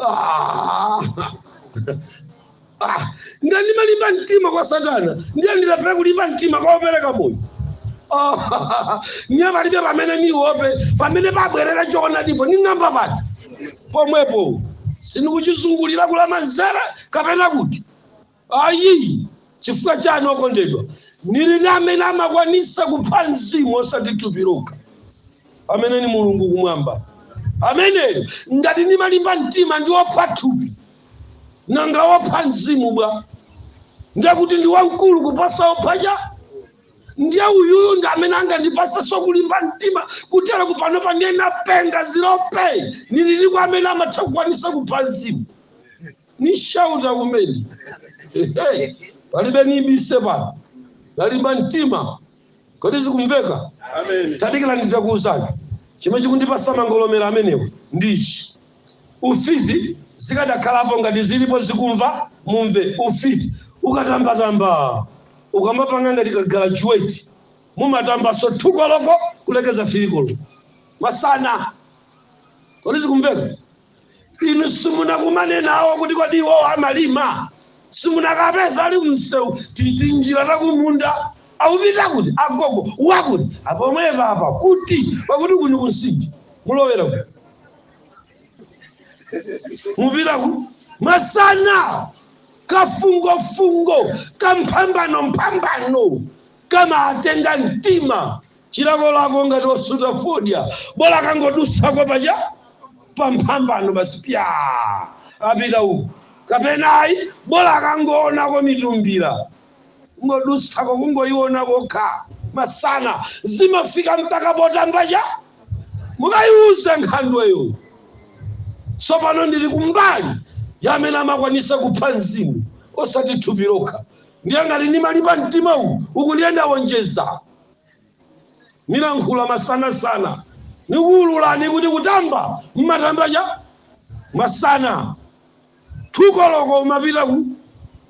Ah. Ah, ngati ndimalimba mtima kwa satana ndiye ndilephere kulimba mtima kwa opereka moyo Ah, ndiye palibe pamene niope pamene pabwerera choonadipo ning'amba pati pomwepo sindikuchizungulira kulamanzere kapena kuti ayi chifukwa chani okondedwa nili ndi amene amakwanisa kupha mzimu osati thupi lokha amene ni mulungu kumwamba ameneyo ngati ndimalimba mtima ndi opha thupi nanga wopha mzimu bwa ndiye kuti ndi wamkulu kuposa wopha cha ndiye uyuyu ndi amene angandipasenso kulimba mtima kuteroku panopa ndiye napenga zilope nili ni kwa amene amatha kukwanisa kupha mzimu ni shauta kumene Ehe, palibe nibise pano nalimba mtima Kodi zikumveka? Amen. Tadikirani nditakuwuzani. Chimene chikundipasa mangolomera amenewa ndi ichi. Ufiti zikadakhalapo ngati zilipo zikumva mumve. Ufiti ukatambatamba ukamapanga ngati kagalajuweti mumatambaso thu koloko kulekeza fili koloko masana. Kodi zikumveka? inu simunakumane nawo kuti kodi iwowo amalima simunakapeza ali mumsewu tinjira takumunda akupita kuti agogo wakuti apomwepapa kuti pakuti kuni kunsinji mulowera kuti mupita kuti masana kafungofungo kamphambano mphambano kamatenga mtima chilakolako ngati osuta fodya bola akangodutsako paja pamphambano basi pya apita uku kapena ayi bola akangoonako mitumbira kungodutsako kungoiona kokha masana zimafika mpaka potambaja mukayiuze nkhandweyo tsopano ndili kumbali ya amene amakwanisa kupha mzimu osati thupi lokha ndiye ngati ndimalimba mtima uku ukundiyenda wonjeza nilankhula masanasana nikuwululani kuti kutamba mmatamba cha masana thukoloko umapita ku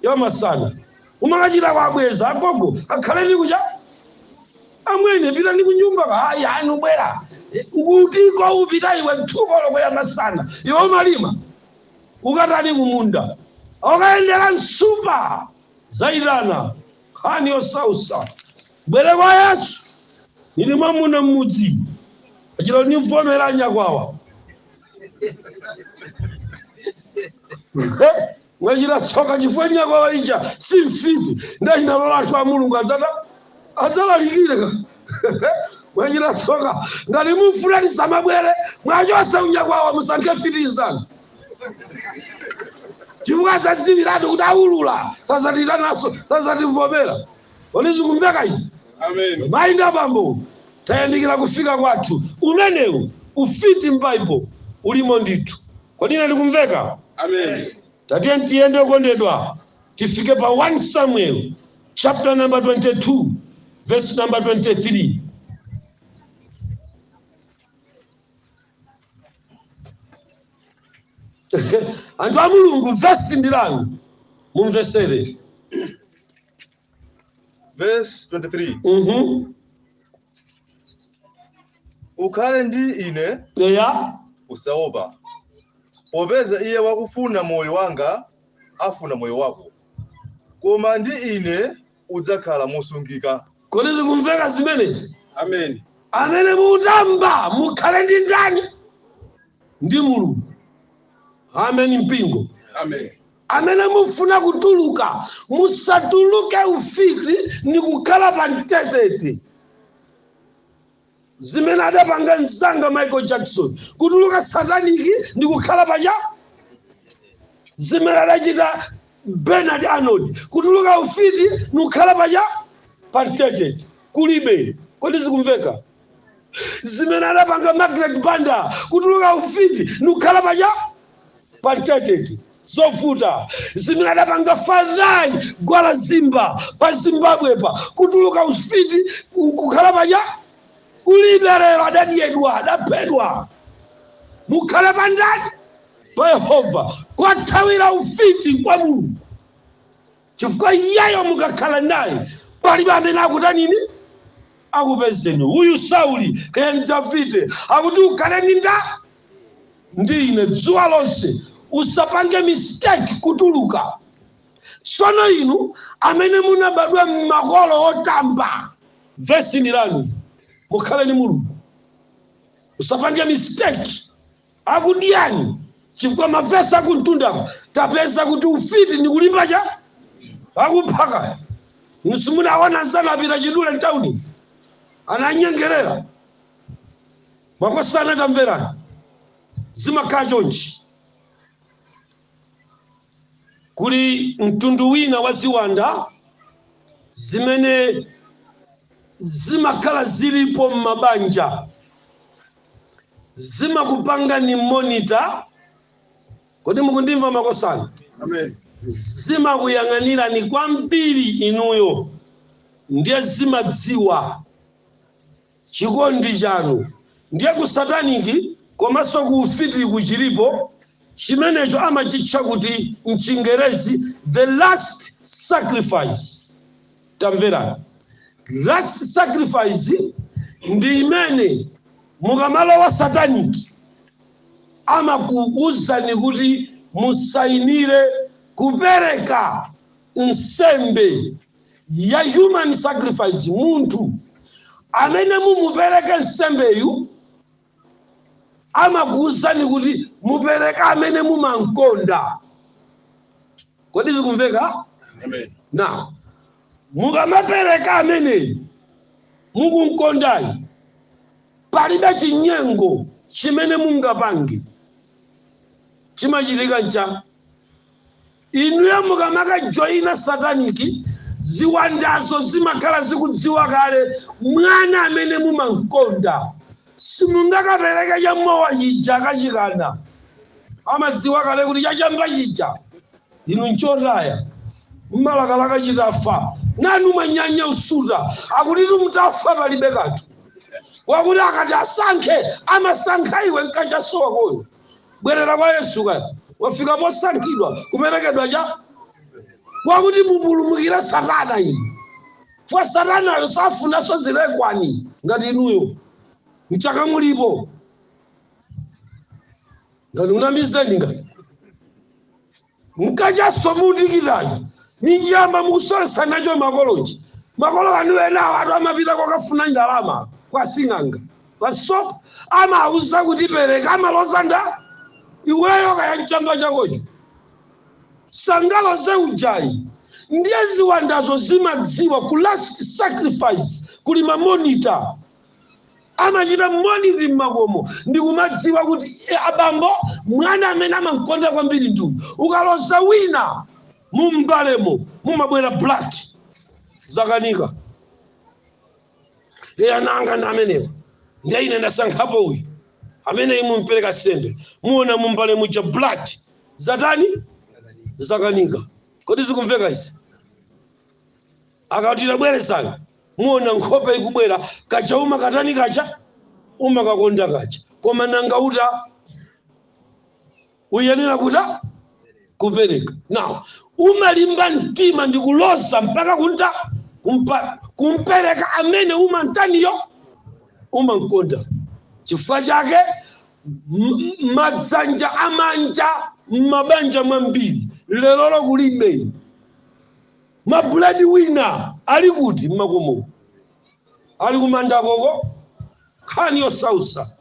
ya masana umakachita kuwabweza agogo akhale ni kucha amwene pitani kunyumba hayi hayi nubwera ukutiko upita iwe thukoloko ya masana iwe umalima ukatani kumunda okayendera nsupa zaitana nkhani yosautsa mubwere kwa yesu nili mwamuna mmudzi achita kuti ndimvomera nyakwawa mwachita tsoka chifukwa nyakwawa ija si mfiti ndiye inalola anthu a mulungu adza adzalalikire mwachita tsoka ngati mufuna tisamabwere muwachotse unyakwawa musankhe mfiti inzanu chifukwa adzadziwiratu kuti aulula sadzatiitananso sadzatimvomera kodi zikumveka izi Amen. mayi ndi abambo tayandikira kufika kwathu umenewu ufiti m'baibo ulimo ndithu kodi ine ndikumveka Amen. tatiye tiyende okondedwa tifike pa 1 samuel chapter number 22 verse number 23 anthu a mulungu vesi ndi lanu mumvetsere Verse 23. Mhm. Ukhale ndi ine eya usaopa. Popeza iye wakufuna moyo wanga afuna moyo wako. Koma ndi ine udzakhala mosungika. Kodi zikumveka zimenezi? Ameni. Amene mutamba mukhale ndi ndani? Ndi Mulungu. Ameni mpingo. Ameni. Amene mufuna kutuluka musatuluke ufiti nikukhala pa mtetete. zimene adapanga mzanga michael jackson kutuluka sataniki ndi kukhala panja zimene adachita bernard arnold kutuluka ufiti nikukhala panja pamtetete kulibe kodi zikumveka zimene adapanga margaret banda kutuluka ufiti nikukhala panja pa mtetete zovuta zimene adapanga fadhayi gwala zimba pa zimbabwe pa kutuluka ufiti ku- kukhala panja kulibe lero adadyedwa adaphedwa mukhale pa ndani pa yehova kothawira ufiti kwa mulungu chifukwa iyeyo mukakhala naye palibe amene akutanini akupezeni uyu sauli kaya ndi davide akuti ukhale ndi nda ndi ine dzuwa lonse usapange mistake kutuluka sono inu amene munabadwa m'makolo otamba vesiyi ni lanu mukhale ni mulungu usapange mistake akudiyani chifukwa mavesi akumtundako tapeza kuti ufiti ndi kulimba chakuti akupha kaya simunaona anzanu apita chidule mtauni ananyengerera makosana tamverani zimakhala chonchi Kuli mtundu wina wa ziwanda zimene zimakhala zilipo m'mabanja. Zimakupangani monitor, kodi mukundimva makosana? Amen. Zimakuyang'anirani kwambiri inuyo ndiye zimadziwa Chikondi chanu ndiye ku satanic komanso ku ufiti kuchilipo chimenecho amachitcha kuti mchingerezi the last sacrifice tamverani last sacrifice ndi imene mukamalowa satanic amakuuzani kuti musainire kupereka nsembe ya human sacrifice, munthu amene mumupereke nsembeyu amakuwuzani kuti mupereke amene mumamkonda. Kodi zikumveka? Amen. Now, mukamapereka amene mukumkondayi palibe chinyengo chimene mungapange chimachitika ncha Inuyo mukamakajoina sataniki, ziwandazo zimakhala zikudziwa kale mwana amene mumam'konda. Simungakapereke cha mowa chija achikana. Amadziwa kale kuti cha chamba chija inu n'chotaya. Mumalakalaka chitafa. Nanu mwanyanya kusuta. Akuti mutafa palibe kanthu. Wakuti akati asankhe, amasankha iwe, n'kachasu wakoyo. bwerera kwa yesu kaya wafika posankhidwa kuperekedwa cha kwakuti mupulumukire satana inu fwa satanayo safunanso zilekwani ngati inuyo mchaka mulipo ngati unamizeni ngati mkachaso mukutikitayo ni chamba mukusowesa nacho makolochi makolo anu enawatu amapita kokafuna ndalama kwa sing'anga pasopo amauza kuti pereka amaloza nda iweyo kaya mchamba chakocho sangaloze ujayi ndiye ziwandazo zimadziwa ku last sacrifice kuli mamonita amachita monitor mmakomo ndikumadziwa kuti e, abambo mwana amene amamkonda kwambiri nduyu ukaloza wina mumbalemo mumabwera black zakanika iye ana anga ndi amenewa ndiye ine ndasankhapo uyu ameneyi mumpereka nsembe muona mumbale muja black zatani zakanika kodi zikumveka izi akati tabwerezani muona nkhope ikubwera kaja umakatani kaja umakakonda kaja koma nanga uta uyenera kuta kupereka now umalimba mtima ndi kuloza mpaka kunta kumpereka amene umantaniyo umankonda chifukwa chake m- m- madzanja amanja m'mabanja mwambiri lerolo kulibe ma bread winner ali kuti mmakomo ali kumanda koko nkhani yosausa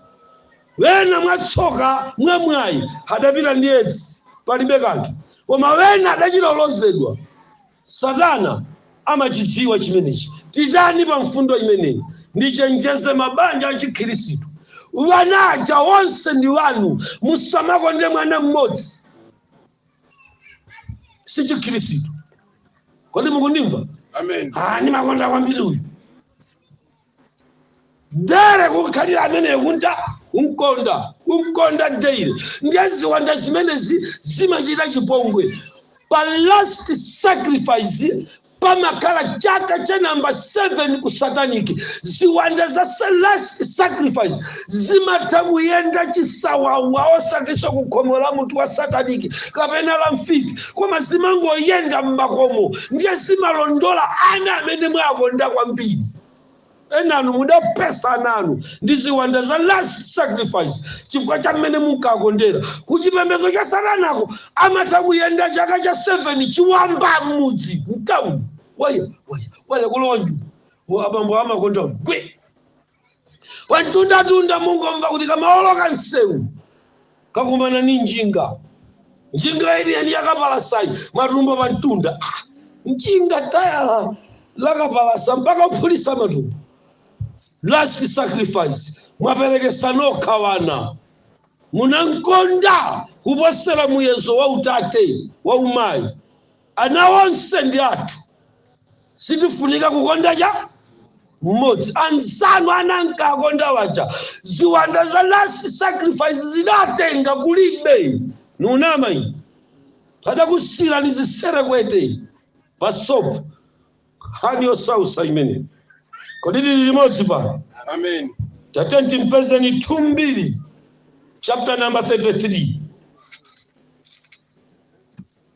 wena mwatsoka mwamwayi adapita ndi edzi palibe kanthu koma wena adachita kulozedwa satana amachidziwa chimenechi titani pa mfundo imeneyi ndichenjeze mabanja achikhirisitu wanaja wonse ndi wanu musamakonde mwana mmodzi si chikhirisitu kodi mukundimva Amen. Ah, ndimakonda kwambiri uyu dere kukhalira ameneyo kunta kumkonda kumkonda dere ndiye ziwanda zimenezi zimachita chipongwe pa last sacrifice pamakhala chaka cha namba 7 ku satanic ziwanda za last sacrifice zimatha kuyenda chisawawa osatinso ku khomo la munthu wa satanic kapena la mfiti koma zimangoyenda m'makomo ndiye zimalondola ana amene mwakonda kwambiri Enanu mudaphetsa ana anu ndi ziwanda za last sacrifice chifukwa cha mmene munkakondera ku chipembedzo cha Satanako. Amatha kuyenda chaka cha 7 chiwamba mmudzi, mtauni, waya, waya, waya kulowa njumu. Abambo amakonda gwe! Pamtundatunda mungomva kuti kamaoloka msewu. kakumana ni njinga. Njinga yeniyeni yakapalasayi, matumbo pamtunda. Ah, njinga tayala lakapalasa mpaka kuphulisa matumbo. Last sacrifice, mwapelekesa nokha mwana. Munankonda kuposela muyezo wa utate, wa umayi. Ana onse ndi athu. Sitifunika kukonda cha mmodzi. Anzanu ana ankakonda waja. Ziwanda za last sacrifice zidatenga kulibe. Nunama iyi. Adakusiirani ziserekwete. Pasopo. Nkhani yosausa imene. Kodi tili limodzi pano? Amen. Tatiyeni timpezeni 2 Mbiri chapter number 33.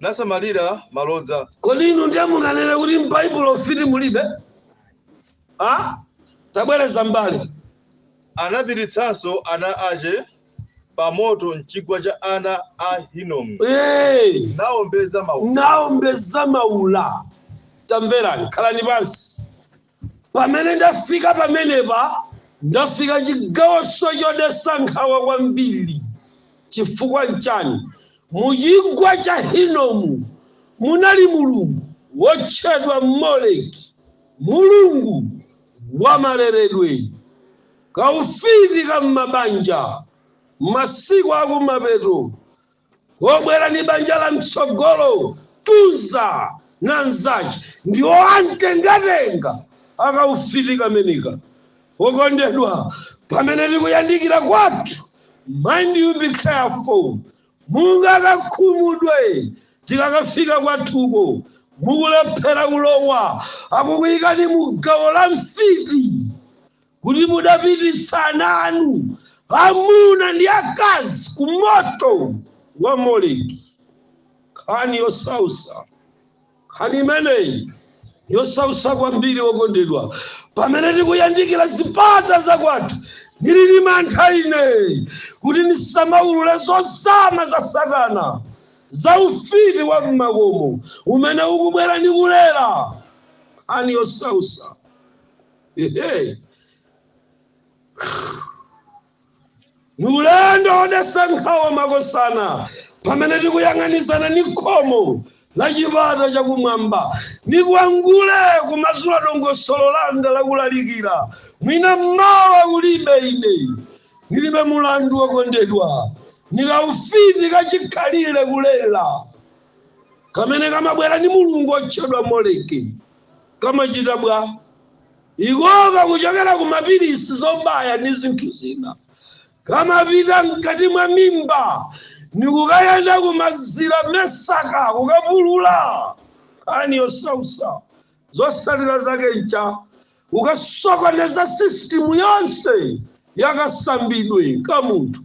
nasamalira malodza. Kodi inu ndiye munganene kuti m'Baibulo ufiti mulibe? Ha? Tabwereza mbali. Anapititsanso ana ache pamoto m'chigwa cha ana a Hinomu, Ee, naombeza maula. Tamverani, khalani pansi. Pamene ndafika pamenepa, ndafika chigawoso chodesa nkhawa kwambiri. Chifukwa nchani? Mu chigwa cha Hinomu munali mulungu wotchedwa Moleki, mulungu wa maleredwe, kaufiti ka m'mabanja, masiku akumapeto, wobwera ni banja la mtsogolo tunza na nzache ndiwo amtengatenga akaufiti kameneka wokondedwa pamene tikuyandikira kwathu mind you be careful mungakakhumudwe tikakafika kwathuko mukulephera kulowa akukuyikani mu gawo la mfiti kuti mudapititsa ana anu amuna ndi akazi ku moto wa Moleki. Nkhani yosausa, nkhani imeneyi yosausa kwambiri wokondedwa, pamene tikuyandikira zipata zakwathu ndili ndi mantha ine kuti ndisamaulule zozama za Satana za ufiti wa m'makomo umene ukubwera ndi kulera nkhani yosausa Ehe. ni ulendo wodesa nkhawa makosana pamene tikuyang'anizana ni khomo la chipata chakumwamba nikwangule kumasula dongosolo langa lakulalikira mwina mmawa kulibe ine nilibe mulandu wokondedwa nikaufiti kachikhalire kulela kamene kamabwera ni mulungu otchedwa moleki kamachita bwa? Iko pakuchokera ku mapilisi, zobaya, ndi zinthu zina, kamapita mkati mwa mimba ndi kukayenda ku mazira, mesaka, kukapulula, nkhani yosausa. Zotsatira zake ncha kukasokoneza sisitimu yonse ya kasambidwe ka munthu.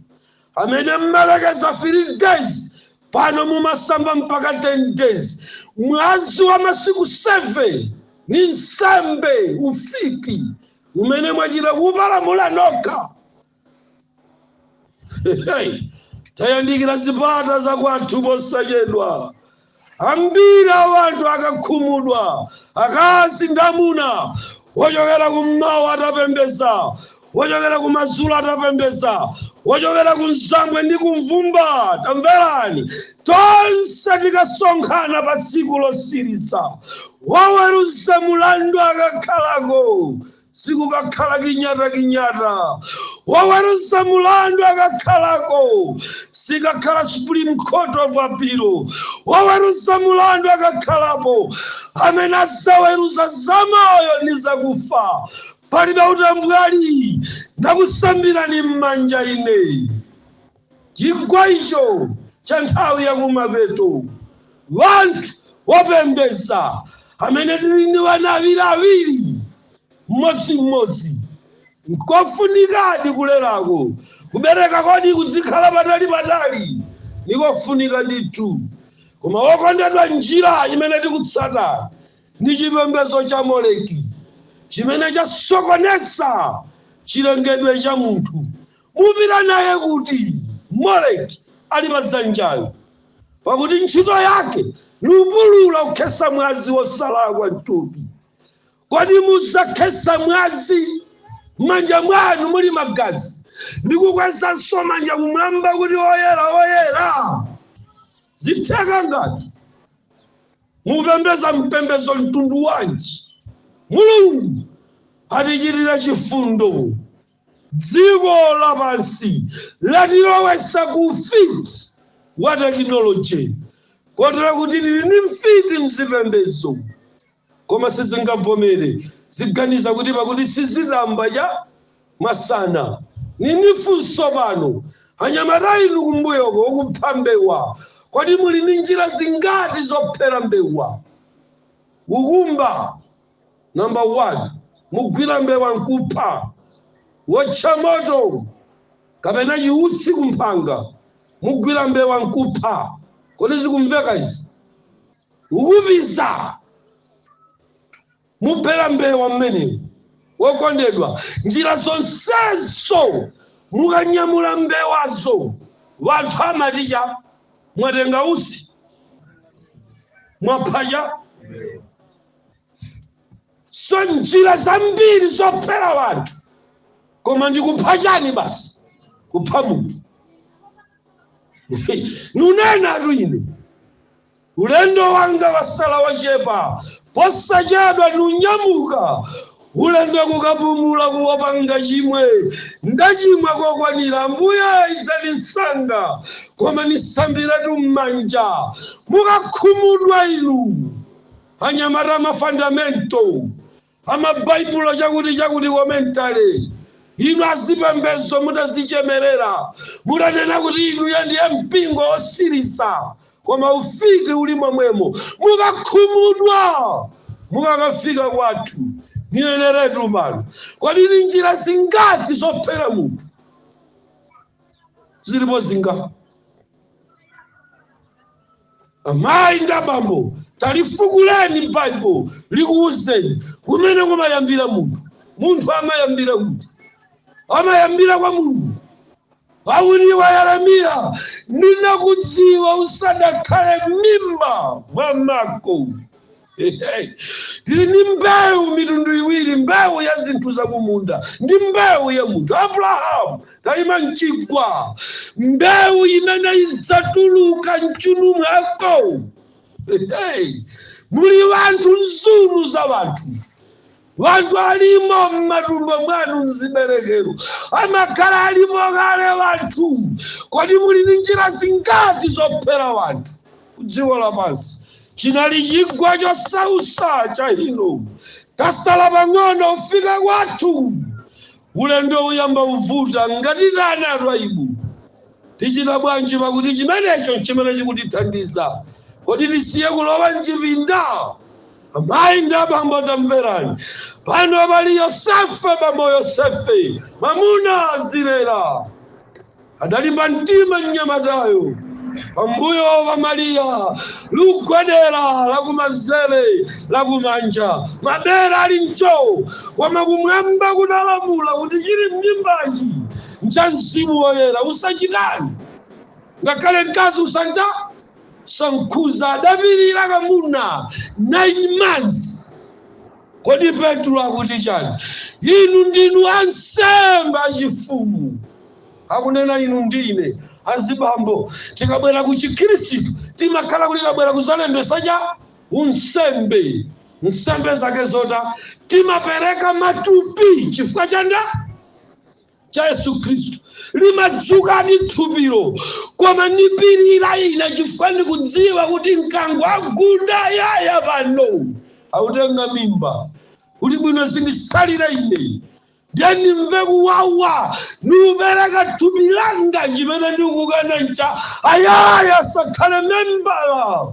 amene mmalekeza 3 days pano mumasamba mpaka 10 days mwazi wa masiku 7 ni nsembe ufiti umene mwachita kupalamula nokha Hey, tayandikira zipata za kwathu posachedwa Ambiri a wanthu akakhumudwa, akazi ndi amuna, wochokera kum'mawa atapembeza, wochokera kumadzulo atapembeza, wochokera kumzambwe ndi kumvumba, tamverani, tonse tikasonkhana patsiku losilitsa, woweruza mulandu akakhalako, sikukakhala kinyatakinyata woweruza mulandu akakhalako sikakhala supreme court of appeal woweruza mulandu akakhalapo amene azaweruza zamoyo ndi zakufa palibe utambwali nakusambirani m'manja ine Chigwa icho cha nthawi ya kumapeto, wanthu wopembeza amene tiri ndi wana awiri awiri m'modzi m'modzi, n'kofunikadi kulerako. Kubereka kodi kudzikhala patali patali? Ni kofunika ndithu. Koma wokondedwa njira imene tikutsata ndi chipembezo cha Moleki chimene chasokoneza chilengedwe cha munthu. Mupita naye kuti Moleki ali pa dzanjayo? Pakuti ntchito yake nikupulula kukhesa mwazi wosalakwa mtupi. Kodi muzakhesa mwazi, m'manja mwanu muli magazi, ndi kukwezanso manja kumwamba kuti oyera, oyera? Zitheka n'ngati? Mupembeza mpembezo mtundu wanji? Mulungu atichitire chifundo. Dziko lapansi latilowetsa ku ufiti wa tekinoloje kotero kuti tili ndi mfiti m'zipembedzo, koma sizingavomere, ziganiza kuti pakuti sizitamba cha masana. Ni nifunso pano, anyamata inu kumbuyoko okupha mbewa, kodi muli ndi njira zingati zophera mbewa? Kukumba. Number one, mugwira mbewa nkupha, wotcha moto kapena chiutsi kumphanga, mugwira mbewa nkupha. Kodi zikumveka izi? Ukupiza, muphera mbewa mmenemo. Wokondedwa, njira zonsezo mukanyamula mbewazo, wanthu amati chani mwatenga utsi mwapha cha so njira zambiri zophera wanthu koma ndikupha chani basi kupha munthu nunenatu ine ulendo wanga watsala wochepa posachedwa ndinyamuka ulendo kukapumula kuopanga chimwe ndachimwa kokwanira ambuye idzani msanga koma nisambiratu m'manja mukakhumudwa inu anyamata mafandamento amabaibulo chakuti chakuti komentale inu azipembezo mutadzichemerera mutanena kuti inuyo ndiye mpingo wotsiriza koma ufiti uli momwemo mukakhumudwa mukakafika kwathu nineneretu pano kodi ni njira zingati zophera munthu zilipo zinga amayi ndi abambo talifukuleni m'baibulo likuwuzeni kumene kumayambira munthu munthu amayambira kuti amayambira kwa mulungu pakuti kwa yeremiya ndinakudziwa usadakhale m'mimba mwa mako tili ndi mbewu mitundu iwiri mbewu ya zinthu zakumunda ndi mbewu ya munthu abrahamu tayima mchigwa mbewu imene idzatuluka mchuuno mwako muli wanthu nzunu za wanthu Wanthu alimo mmatumbo mwanu mziberekero amakhala alimo kale wanthu kodi muli ndi njira zingati zophera wanthu kudziko lapansi chinali chigwa chosausa cha Hinomu tatsala pang'ono kufika kwathu Ulendo uyamba kuvuta ngati tanena a Twaibu. Tichita bwanji pakuti chimenecho n'chimene chikutithandiza? Kodi tisiye kulowa m'chipinda? Amayi ndi abambo tamverani. Pano pali Yosefe, bambo Yosefe, mwamuna azilera. Adalimba mtima mnyamatayo pambuyo pa Mariya likugwedera lakumanzere lakumanja mabere ali mcho koma kumwamba kunalamula kuti chili m'mimbachi ncha mzimu woyera usachitani ngakhale mkazi usanja sankhuza adapirira kamuna 9 months kodi Petulo akuti chani inu ndinu ansembe achifumu akunena inu ndi ine azibambo tikabwera ku chikhristu timakhala kuti tabwera kuzalembesa cha unsembe nsembe zake zota timapereka matupi chifukwa cha nda cha yesu khristu limadzuka ndi thupilo koma nipirira ine chifukwa ndikudziwa kuti mkango wagunda yaya pano akutenga mimba kuti bwino zindisalire ine ndiye ndimve kuwawa ndikupereka thupi langa chimene ndikukana ncha ayaya asakhale membala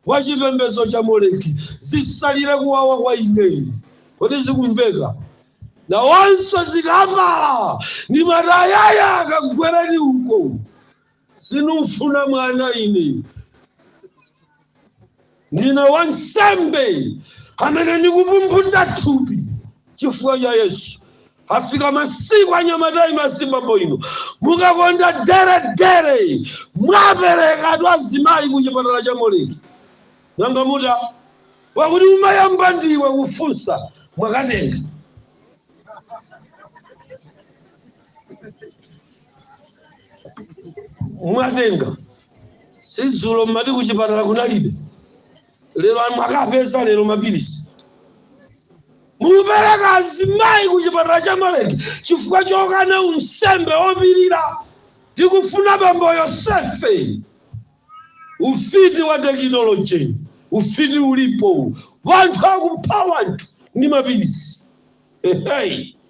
wa chipembedzo cha moleki zisalire kuwawa kwa ineyi kodi zikumveka nawonso zikapala ndi matayaya kagwereni uko sinikufuna mwana ine ndine wansembe amene ndikupumphuta thupi chifukwa cha yesu afika masiku anyamatayi masikawo ino mukakonda deredere mwapereka tu azimayi ku chipatala cha moleki nanga mutani pakuti umayamba ndiwe kufunsa mwakatenga mwatenga sidzulo mmati kuchipatala kunalibe lero mwakapeza lero mapilisi mukupereka azimayi kuchipatala cha moleki chifukwa chokana unsembe wopirira tikufuna bambo yosefe ufiti wa tekinoloji ufiti ulipo wanthu akupha wanthu ndi mapilisi Hey.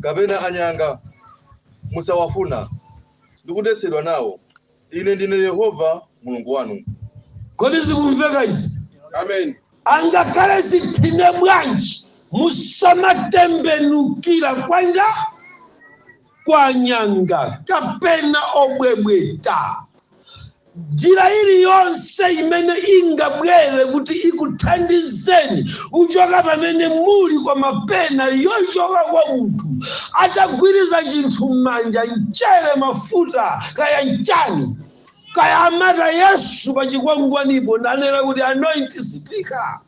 kapena anyanga, musawafuna, ndi kudetsedwa nao, Ine ndine Yehova Mulungu wanu. Kodi zikumveka izi? Amen. Angakhale zithine bwanji, musamatembenukira kwa nda kwa anyanga kapena obwebweta. njira iliyonse imene ingabwere kuti ikuthandizeni kuchoka pamene muli kapena yochoka kwa munthu atagwiriziza chinthu m'manja mchere mafuta kaya nchani kaya amata yesu pa chikwangwanipo nanena kuti anoint sitika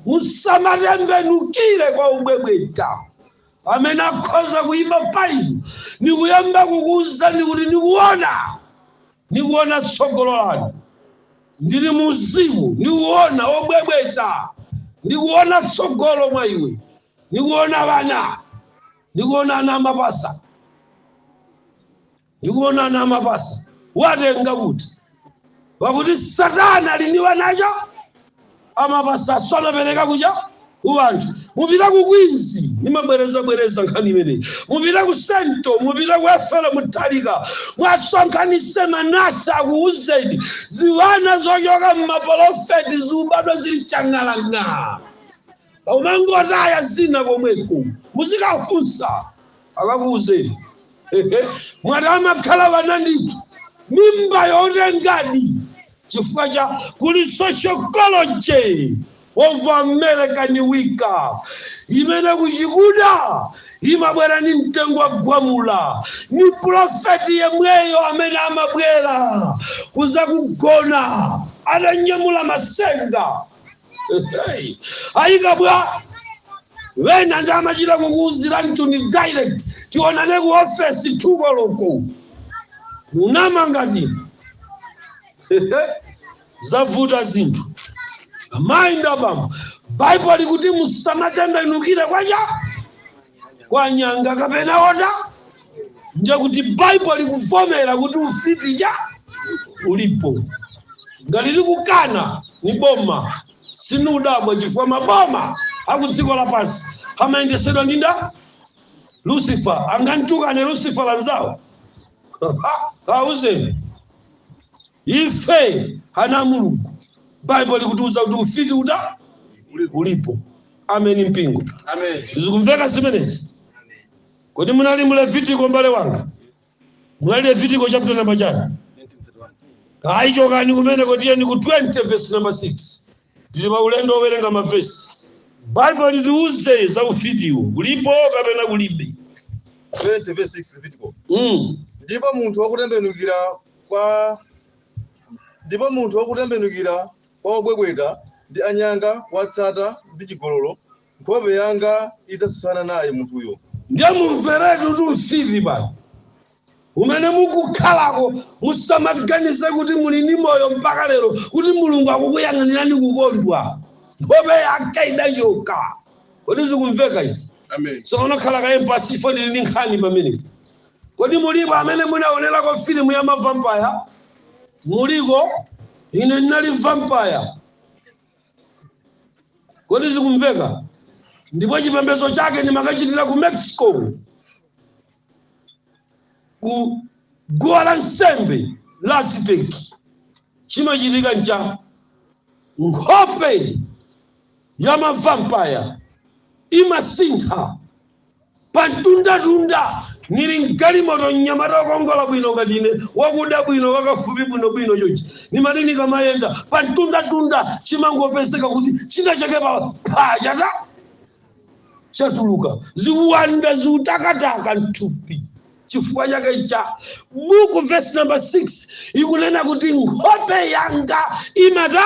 musamatembenukire kwa obwebweta amene akhoza kuyima pa inu ndikuyamba kukuwuzani kuti ndikuona ndikuona tsogolo lanu ndili mu uzimu ndikuona obwebweta ndikuona tsogolo mwa iwe ndikuona bana ndikuona ana amapasa Ndikuona ana amapasa watenga kuti pakuti satana ali ndi wanacho amapasaso amapereka kucha kuwanthu mupita ku Queens ndimabwerezabwereza nkhani imeneyi mupita ku sento mupita ku Ethel Mutharika mwasonkhanise manesi akuuzeni ziwana zochoka m'mapolofeti zikubadwa zili chang'alang'a umangotaya zina komweko muzikafunsa akakuuzeni mwati amakhala wana ndithu mimba yotengadi chifukwa cha kuli sociology of American Wicca imene kuchikuda imabwera ni mtengo wa gwamula ni profeti yemweyo amene amabwera kuzakugona atanyamula masenga Hey, ayika bwa wena ndimachita kukuuzira mtuni direct tionane ku ofesi tu koloko munama ngati zavuta zinthu amayi ndabambo baibulo likuti musamatembenukire kwacha kwa nyanga kapena wota ndiye kuti baibulo likuvomera kuti ufiti cha ulipo ngati likukana ni boma sinudabwa chifukwa maboma akudziko lapansi amayendesedwa ndi nda lucifer angantukane lucifer lanzawo auzeni Ife ana a Mulungu, Bible likutiuza kuti ufiti uta ulipo. Ameni mpingo. Zikumveka zimenezi? Kodi munali mu Levitiko mbale wanga? Munali Levitiko chapter number chani? Ayi chokani kumeneko tiyeni ku 20 verse number 6. Tili pa ulendo wowerenga mavesi. Bible litiuze za ufitiwo. Ulipo kapena kulibe? 20 verse 6 Levitiko. Mm. Ndipo munthu wakutembenukira kwa ndipo munthu wakutembenukira kwa obwebweta ndi anyanga watsata ndi chigololo nkhope yanga idzatsutsana naye munthuyo ndiye mumveretu tu mfiti bana kumene mukukhalako musamaganize kuti muli ndi moyo mpaka lero kuti mulungu akukuyang'anirani kukondwa nkhope yake idachoka kodi zikumveka izi Amen. so unakhala kaye mpasi ifo ndili ndi nkhani pamene Kodi muliko amene munaonerako filimu ya mavampaya? Muliko? Ine ndinali vampaya. Kodi zikumveka? Ndipo chipembedzo chake ndimakachitira ku Mexico, ku guwa la nsembe la Aziteki. Chimachitika ncha nkhope ya mavampaya imasintha Pa mtundatunda, nili m'galimoto, mnyamata wokongola bwino ngati ine, wakuda bwino, wakafupi bwinobwino chonchi. Nimati nikamayenda, pa mtundatunda chimangopezeka kuti chinachake phaa chata! chatuluka. Ziwanda ziutakataka m'thupi. Chifukwa chake cha buku, vesi namba 6 ikunena kuti nkhope yanga imata.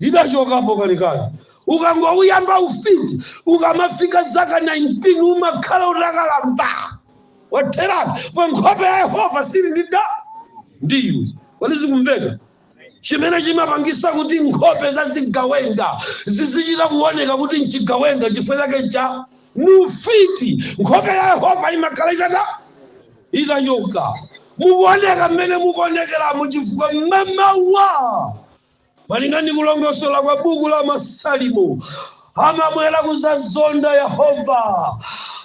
idachokapo kalekale ukangouyamba ufiti ukamafika zaka 19 umakhala utakalamba wotheratu pa nkhope ya yehova sili sili kodi zikumveka chimene chimapangisa kuti nkhope za zigawenga zizichita kuoneka kuti mchigawenga chifukwa chake cha ni ufiti nkhope ya yehova imakhala itata itachoka, mukuoneka mmene mukuonekeramu chifukwa mmamawa, malinga ndi kulongosola kwa buku la Masalimo, amabwera kuzazonda Yehova.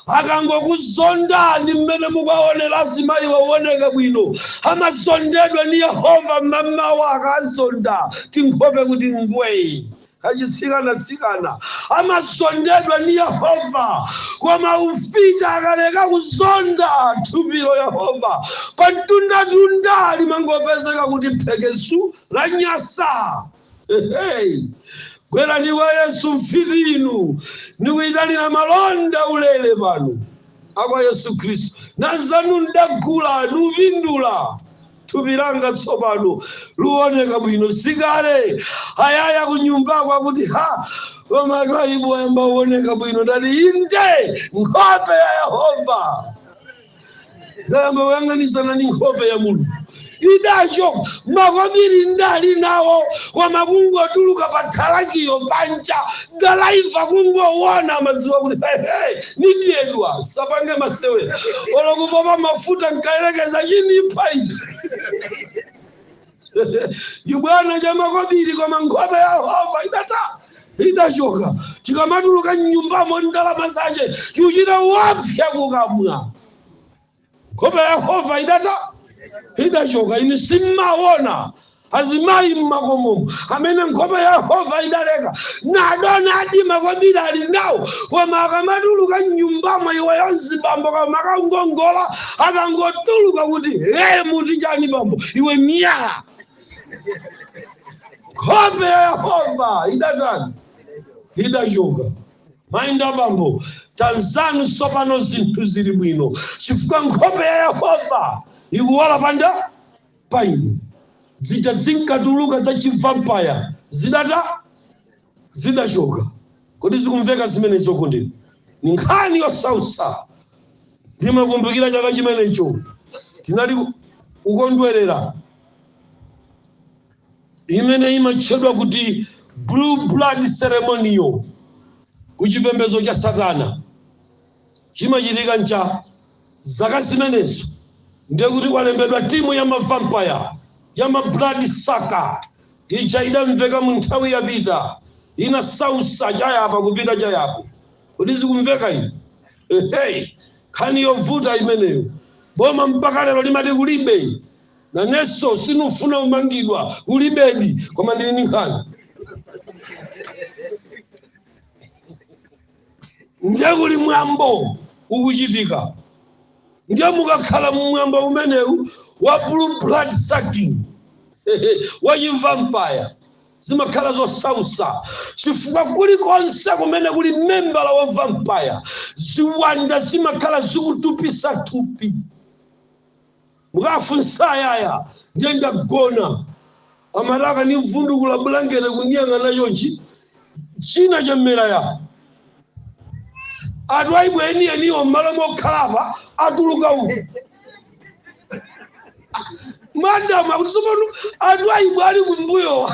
Akangokuzondani mmene mukuonera azimayi waoneka bwino, amazondedwa ndi Yehova mmamawa akazonda tinkhope kuti ngwee. Achitsikanatsikana amazondedwa ni Yehova, koma ufiti akaleka kuzonda thupilo, Yehova pamtundatunda limangopezeka kuti phekesu, lanyasa. Hehe! Bwerani kwa Yesu mfiti inu, ndikuitanira malonda ulele pano, a kwa Yesu Kristu, na zanu n'dagula, nupindula. thupi langa tsopano luoneka bwino sikale ayaya kunyumbako akuti ha koma twaibu ayamba uoneka bwino ndati inde nkhope ya yehova ndayamba kuyang'anisana ndi nkhope ya mulungu idacho makobiri ndali nawo koma kungotuluka pa thalakiyo panja dalaiva kungowona amadziwa kuti hehe Nidyedwa sapange masewera olo kupopa mafuta nkayerekeza chinipha ichi chibwana cha makobiri koma nkhope ya Yehova idata idachoka chikamatuluka mnyumbamo ndalama zache chiuchita wapya kukamwa nkhope ya yehova idata idachoka inu simmaona azimayi mmakomomo amene nkhope ya yehova idaleka nadonadi makobiri ali nawo koma akamatuluka mnyumbamo iweyo nzibambo koma akangongola akangotuluka kuti ee muti chani bambo iwe miyala nkhope ya yehova idatani idachoka Mayi nda abambo, tanzanu tsopano zinthu zili bwino chifukwa nkhope ya Yehova ikuwala pa nda pa ine. Zija zinkatuluka za chivampaya zidata zidachoka. Kodi zikumveka zimenezo okondeni? Ni nkhani yosausa. Ndimakumbukira chaka chimenecho tinali kukondwerera imene imatchedwa kuti Blue Blood Ceremony ku chipembedzo cha Satana, chimachitika ncha zaka zimenezo, ndiye kuti kwalembedwa timu ya ma vampire, ya ma blood sucker ija idamveka mu nthawi yapita, inasausa cha yapa kupita cha yapo. Kodi zikumveka iyi? Ehe, nkhani yovuta imeneyo. Boma mpaka lero limati kulibe. Naneso sinufuna umangidwa kulibedi koma ndili ndi nkhani ndiye kuli mwambo ukuchitika ndiye mukakhala mumwambo umenewu wa blue blood sucking wachivampaya zimakhala zosausa chifukwa kulikonse kumene kuli membala wa vampaya ziwanda zimakhala zikutupisa thupi Mukafunsa ayaya ndiye ndagona amati akandivundukula bulangete kundiyang'ana chonchi china chamera yapa. A Twaibu enieniwo m'malo mokhala apa atuluka uku. Madam akuti tsopano a Twaibu ali kumbuyo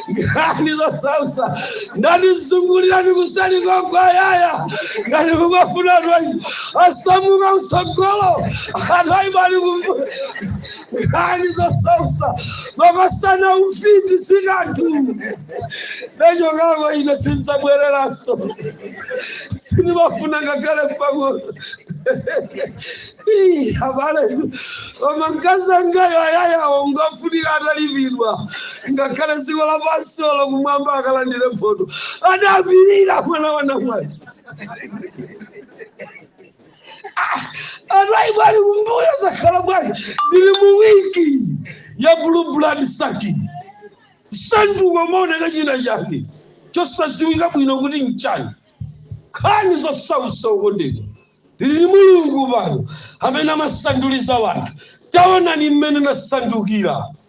nkhani zosausa ndanizungulirani kusali kwakwa ayaya ngati kukafuna a Twaibu asamuka kutsogolo a Twaibu ali kumbuyo nkhani zosausa makosana ufiti sikanthu ndachokako ine sinzabwereranso sindimafuna ngakhale pang'ono Ih, abale koma mkazi wangayo ayayawo ngofunika atalipidwa ngakhale dziko lapansi olo kumwamba akalandire mphotho adapirira mwana wa namwali anthu ayibwali kumbuyo zakhala bwanji ndili mu wiki ya blue blood sucking sanduka umaoneka china chake chosadziwika bwino kuti mchani nkhani zosausa okondedwa tili ndi mulungu pano amene amasanduliza wanthu taonani mmene nasandukira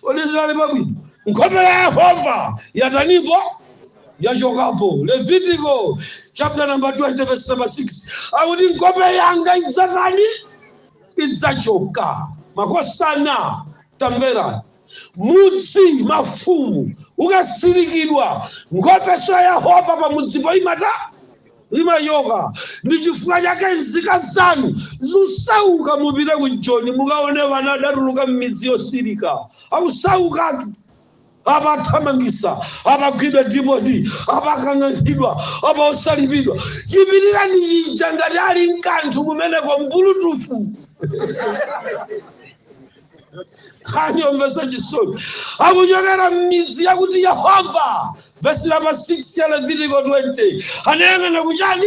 kodi zinali pabwino nkhope ya yehova yatanipo yachokapo levitiko chapter number 20 verse number 6 akuti nkhope yanga idzatani idzachoka makosana tamvera mudzi mafumu ukasirikidwa nkhopeso ya yehova pamudzipo imata imachoka ndichifukwa chake nzika zanu zusauka mupite ku joni mukaone vana adatuluka mmidzi yosirika akusaukatu apa athamangisa apa agwidwa dipoti apa akang'anthidwa apa osalipidwa chipitirani chija ngati ali nkanthu kumeneko mbulutufu nkhani yomvetsa chisoni akuchokera m'mizi yakuti yehova vesi namba 6 ya levitiko 20 anayang'ana kuchani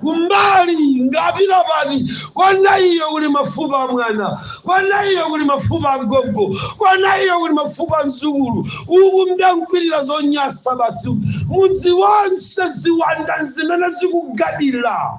kumbali ngapita pati kona iyo kuli mafupa a mwana kona iyo kuli mafupa a gogo kona iyo kuli mafupa a mzukulu uku mdankwirira zonyasa basi mudzi wonse ziwanda zimene zikugadira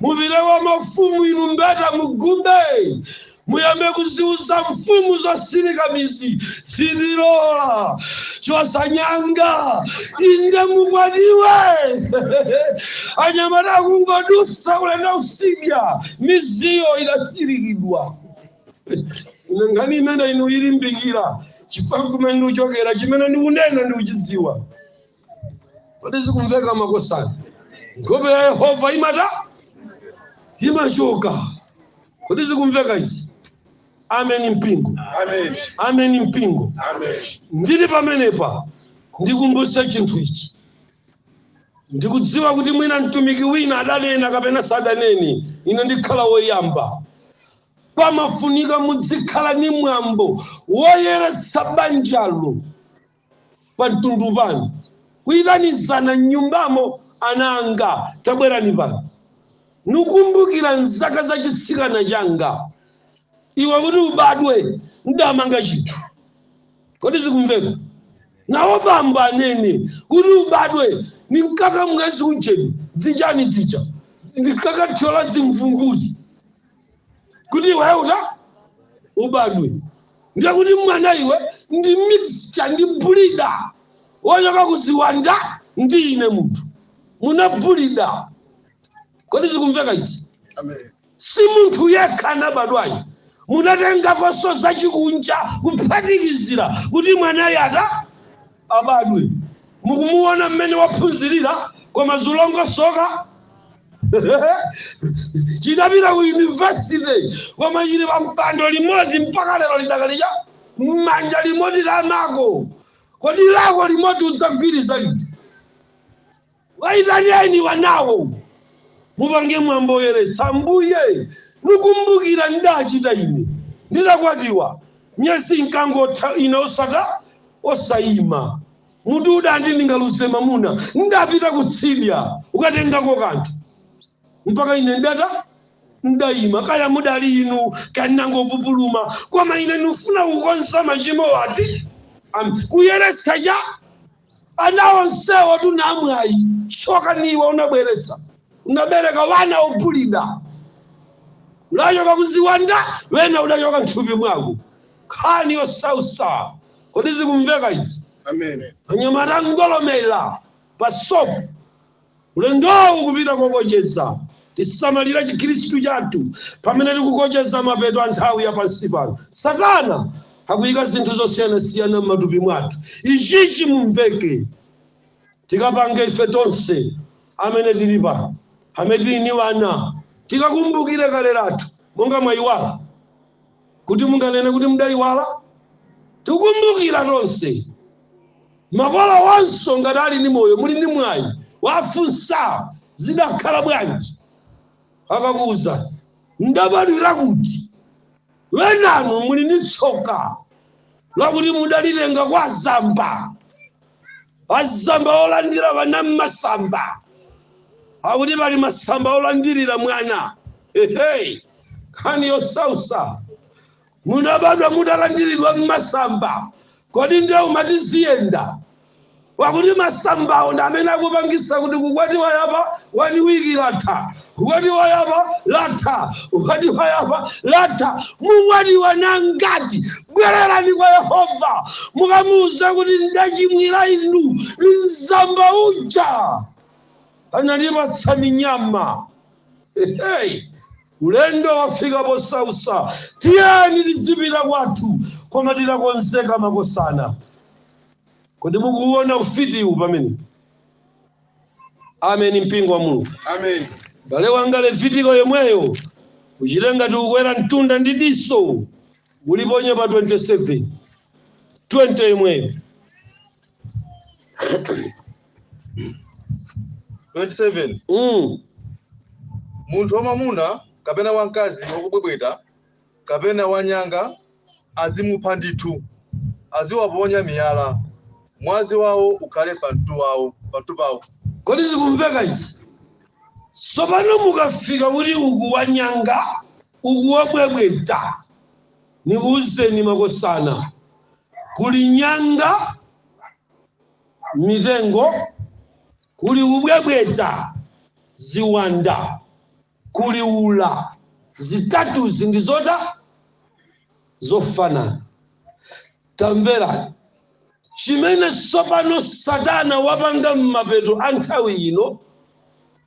mupite kwa mafumu inu mbeta mukumbe muyambe kuziwuza mfumu zosirika mizi sindilola chosanyanga inde mukwatiwe anyamata akungodusa ulendo kusidya miziyo idasirikidwa ine nkhani imene ino ndilimbikira chifukwa kumene ndikuchokera chimene ndikunena ndikuchidziwa kodi zikumveka makosana nkhope ya yehova imata imachoka kodi zikumveka izi ameni mpingo Amen. ameni mpingo Amen. ndili pamenepa ndikumbutse chinthu ichi ndikudziwa kuti mwina mtumiki wina adanena kapena sadanene ine ndikhala woyamba pamafunika mudzikhala ni mwambo woyeretsa banjalo pa mtundu panu, kuitanizana m'nyumbamo, Ana anga, tabwerani pano, nikumbukira m'zaka za chitsikana changa, iwe kuti ubadwe, n'damanga chinthu. Kodi zikumveka? Nawo bambo anene, Kuti ubadwe, ninkaka mwezi ujeni, dzijani dzija, ndinkakathyola zimvunguti, kuti iweyo uta ubadwe. ndiye kuti mwana iwe ndi mixture ndi bulida wochoka kuziwanda ndi ine munthu munabulida kodi zikumveka izi Amen. si munthu yekha anabadwayi munatengakonso zachikunja kuphatikizira kuti mwanayi ata abadwe. Mukumuwona mmene waphunzirira koma zulongosoka? Chinapita ku yunivesite koma chili pa mpando limodzi mpaka lero lidakali cha m'manja limodzi la amako. Kodi lako limodzi udzagwiriza liti? Waitaneni wanawo mupange mwambo woyeretsa. Ambuye, nikumbukira ndidachita ine nditakwatiwa, miyezi inkangotha ine osata, osaima, mutu udandi ndingaluze mamuna, ndidapita kutsidya kukatengako kanthu mpaka ine ndidata, ndidaima, kaya mudali inu kaya ndinangopupuluma, koma ine ndikufuna kukonza machimowo ati, am, kuyeretsa cha. ana onsewo tuna amwayi tsoka niwe unabweretsa unabereka wana obulida unachoka kuziwanda wena unachoka m'thupi mwako nkhani yosausa kodi zikumveka izi Amen. anyamata ngolomera pa sopo Ulendowu ukupita kokocheza. Tisamalira chikhristu chathu pamene tikukocheza mapeto a nthawi ya pansi pano. Satana akuyika zinthu zosiyanasiyana m'matupi mwathu. Ichi chimumveke tikapange ife tonse amene tili pano, amene tili ni wana, tikakumbukire kale lathu, monga mwayiwala? kuti munganene kuti mudaiwala? Tikumbukira tonse. Makolowonso ngati ali ni moyo muli ni mwayi wafunsa zidakhala bwanji akakuuzani. Mudabadwira kuti? Wenanu muli ni tsoka lakuti mudalitenga kwa azamba. azamba olandira wana mmasamba akuti pali masamba olandirira mwana ehe nkhani yosausa munabadwa mutalandiridwa mmasamba kodi ndiye umati ziyenda pakuti masambawo ndi amene akupangisa kuti kukwatiwa yapa one week latha kukwatiwa yapa latha kukwatiwa yapa latha mukwatiwa ni angati bwererani kwa yehova mukamuuza kuti ndachimwira inu mzamba uja anandipatsa minyama hey. ulendo wafika posausa tiyeni tizipita kwathu koma titakonzeka makosana kodi mukuwona ufitiwu pamene ameni mpingo wa mulungu Amen. bale wanga levitiko yomweyo uchite ngati ukwera mtunda ndi diso uliponye pa 27 20 yomweyo 27. mm. Munthu wamwamuna kapena wamkazi wakubwebweta kapena wanyanga azimupha ndithu, aziwaponya miyala, mwazi wawo ukhale pamtu wawo, pamtu pawo. Kodi zikumveka izi? Tsopano mukafika kuti uku wanyanga, uku wobwebweta, nikuwuzeni makosana, kuli nyanga, m'mitengo, kuli kubwebweta, ziwanda. kuli ula. Zitatuzi ndi zota? Zofanana. Tamvera. Chimene tsopano Satana wapanga m'mapeto a nthawi ino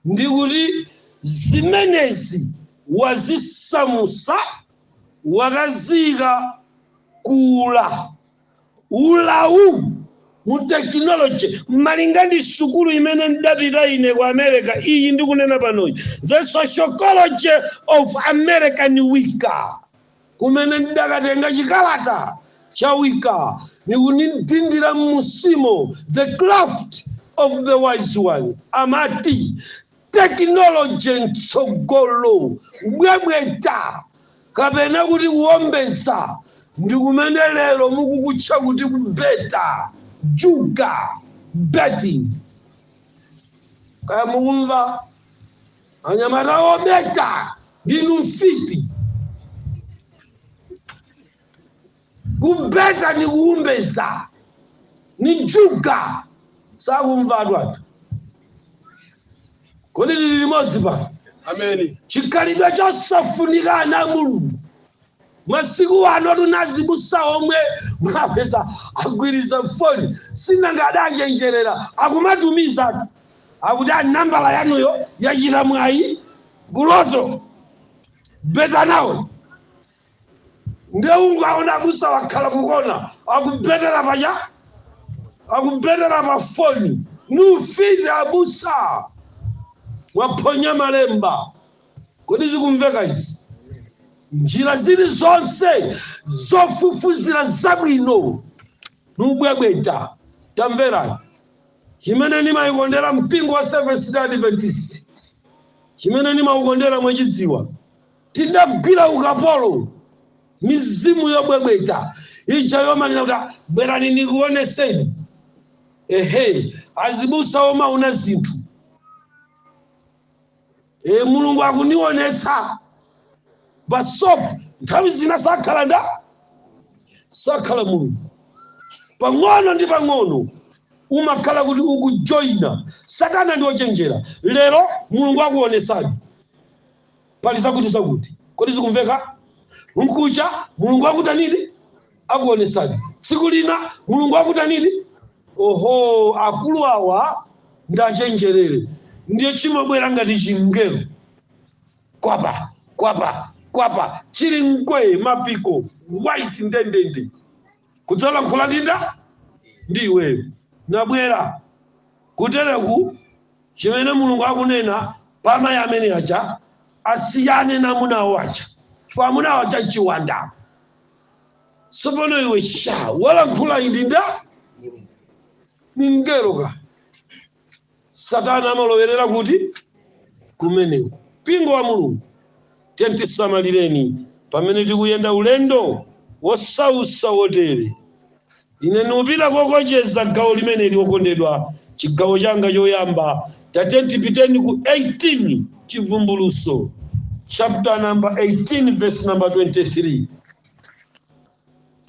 ndi kuti zimenezi wazisamusa, wakaziika ku ula. ulawu mu technology malinga ndi sukulu imene ndidapita ine ku america iyi ndikunena panoyi the sociology of American Wicca kumene ndidakatenga chikalata cha Wicca ni kundidindira mmusimo the craft of the wise one amati Tekinoloje m'tsogolo, bwebweta, kapena kuti kuwombeza, ndi kumene lero mukukutcha kuti kubeta, juga, betting. Kaya mukumva anyamata obeta, ndi ufiti. kubeta ni kuombeza ni juga sakumva athu kodi lili limodzi pano Ameni. chikhalidwe chosafunika ana a mulungu masiku ano tu na azibusa omwe mwapeza agwiriza foni sinanga adachenjerera akumatumizatu akuti nambala yanuyo yachita mwayi kuloto beta nawo ndiye ungaona abusa wakhala kukona akubetera paja akubetera pafoni ni ufiti abusa mwaphonya malemba kodi zikumveka izi njira zilizonse zofufuzira zabwino ni ubwebweta tamvera chimene ndimaukondera mpingo wa Seventh Day Adventist chimene ndimaukondera mwachidziwa Tidagwira ukapolo mizimu yobwebweta ija yomanena kuti, Bwerani nikuonetseni. Ehe! Azibusa omaona zinthu. Eeh, Mulungu akunionetsa. Basop nthawi zina sakhala nda? Sakhala Mulungu. Pang'ono ndi pang'ono umakhala kuti ukujoina. Satana ndi ochenjera. Lero Mulungu akuonetsani. pali zakuti zakuti kodi zikumveka mkucha mulungu akutanini akuonesani tsiku lina mulungu akutanini oho akulu awa ndachenjerera ndiye chimabwera ngati chingelo kwapa kwapa kwapa chili mkwee mapiko white ndendende kudzalankhula ndi nda? Ndi iweyo. Nabwera kutereku chimene Mulungu akunena pa amayi amene aja asiyane na amuna awo aja chifukwa amuna awo aja nchiwanda. Tsopano iwe sha walankhula ndi nda? Ni mngelo ka. Satana amalowerera kuti? Kumeneko. Mpingo wa Mulungu, tiyeni tisamalireni pamene tikuyenda ulendo wosautsa wotere. Ine ndikupita kokocheza gawo limeneli, okondedwa, chigawo changa choyamba. Tatiyeni tipiteni ku 18, Chivumbulutso, chapter number 18, verse number 23.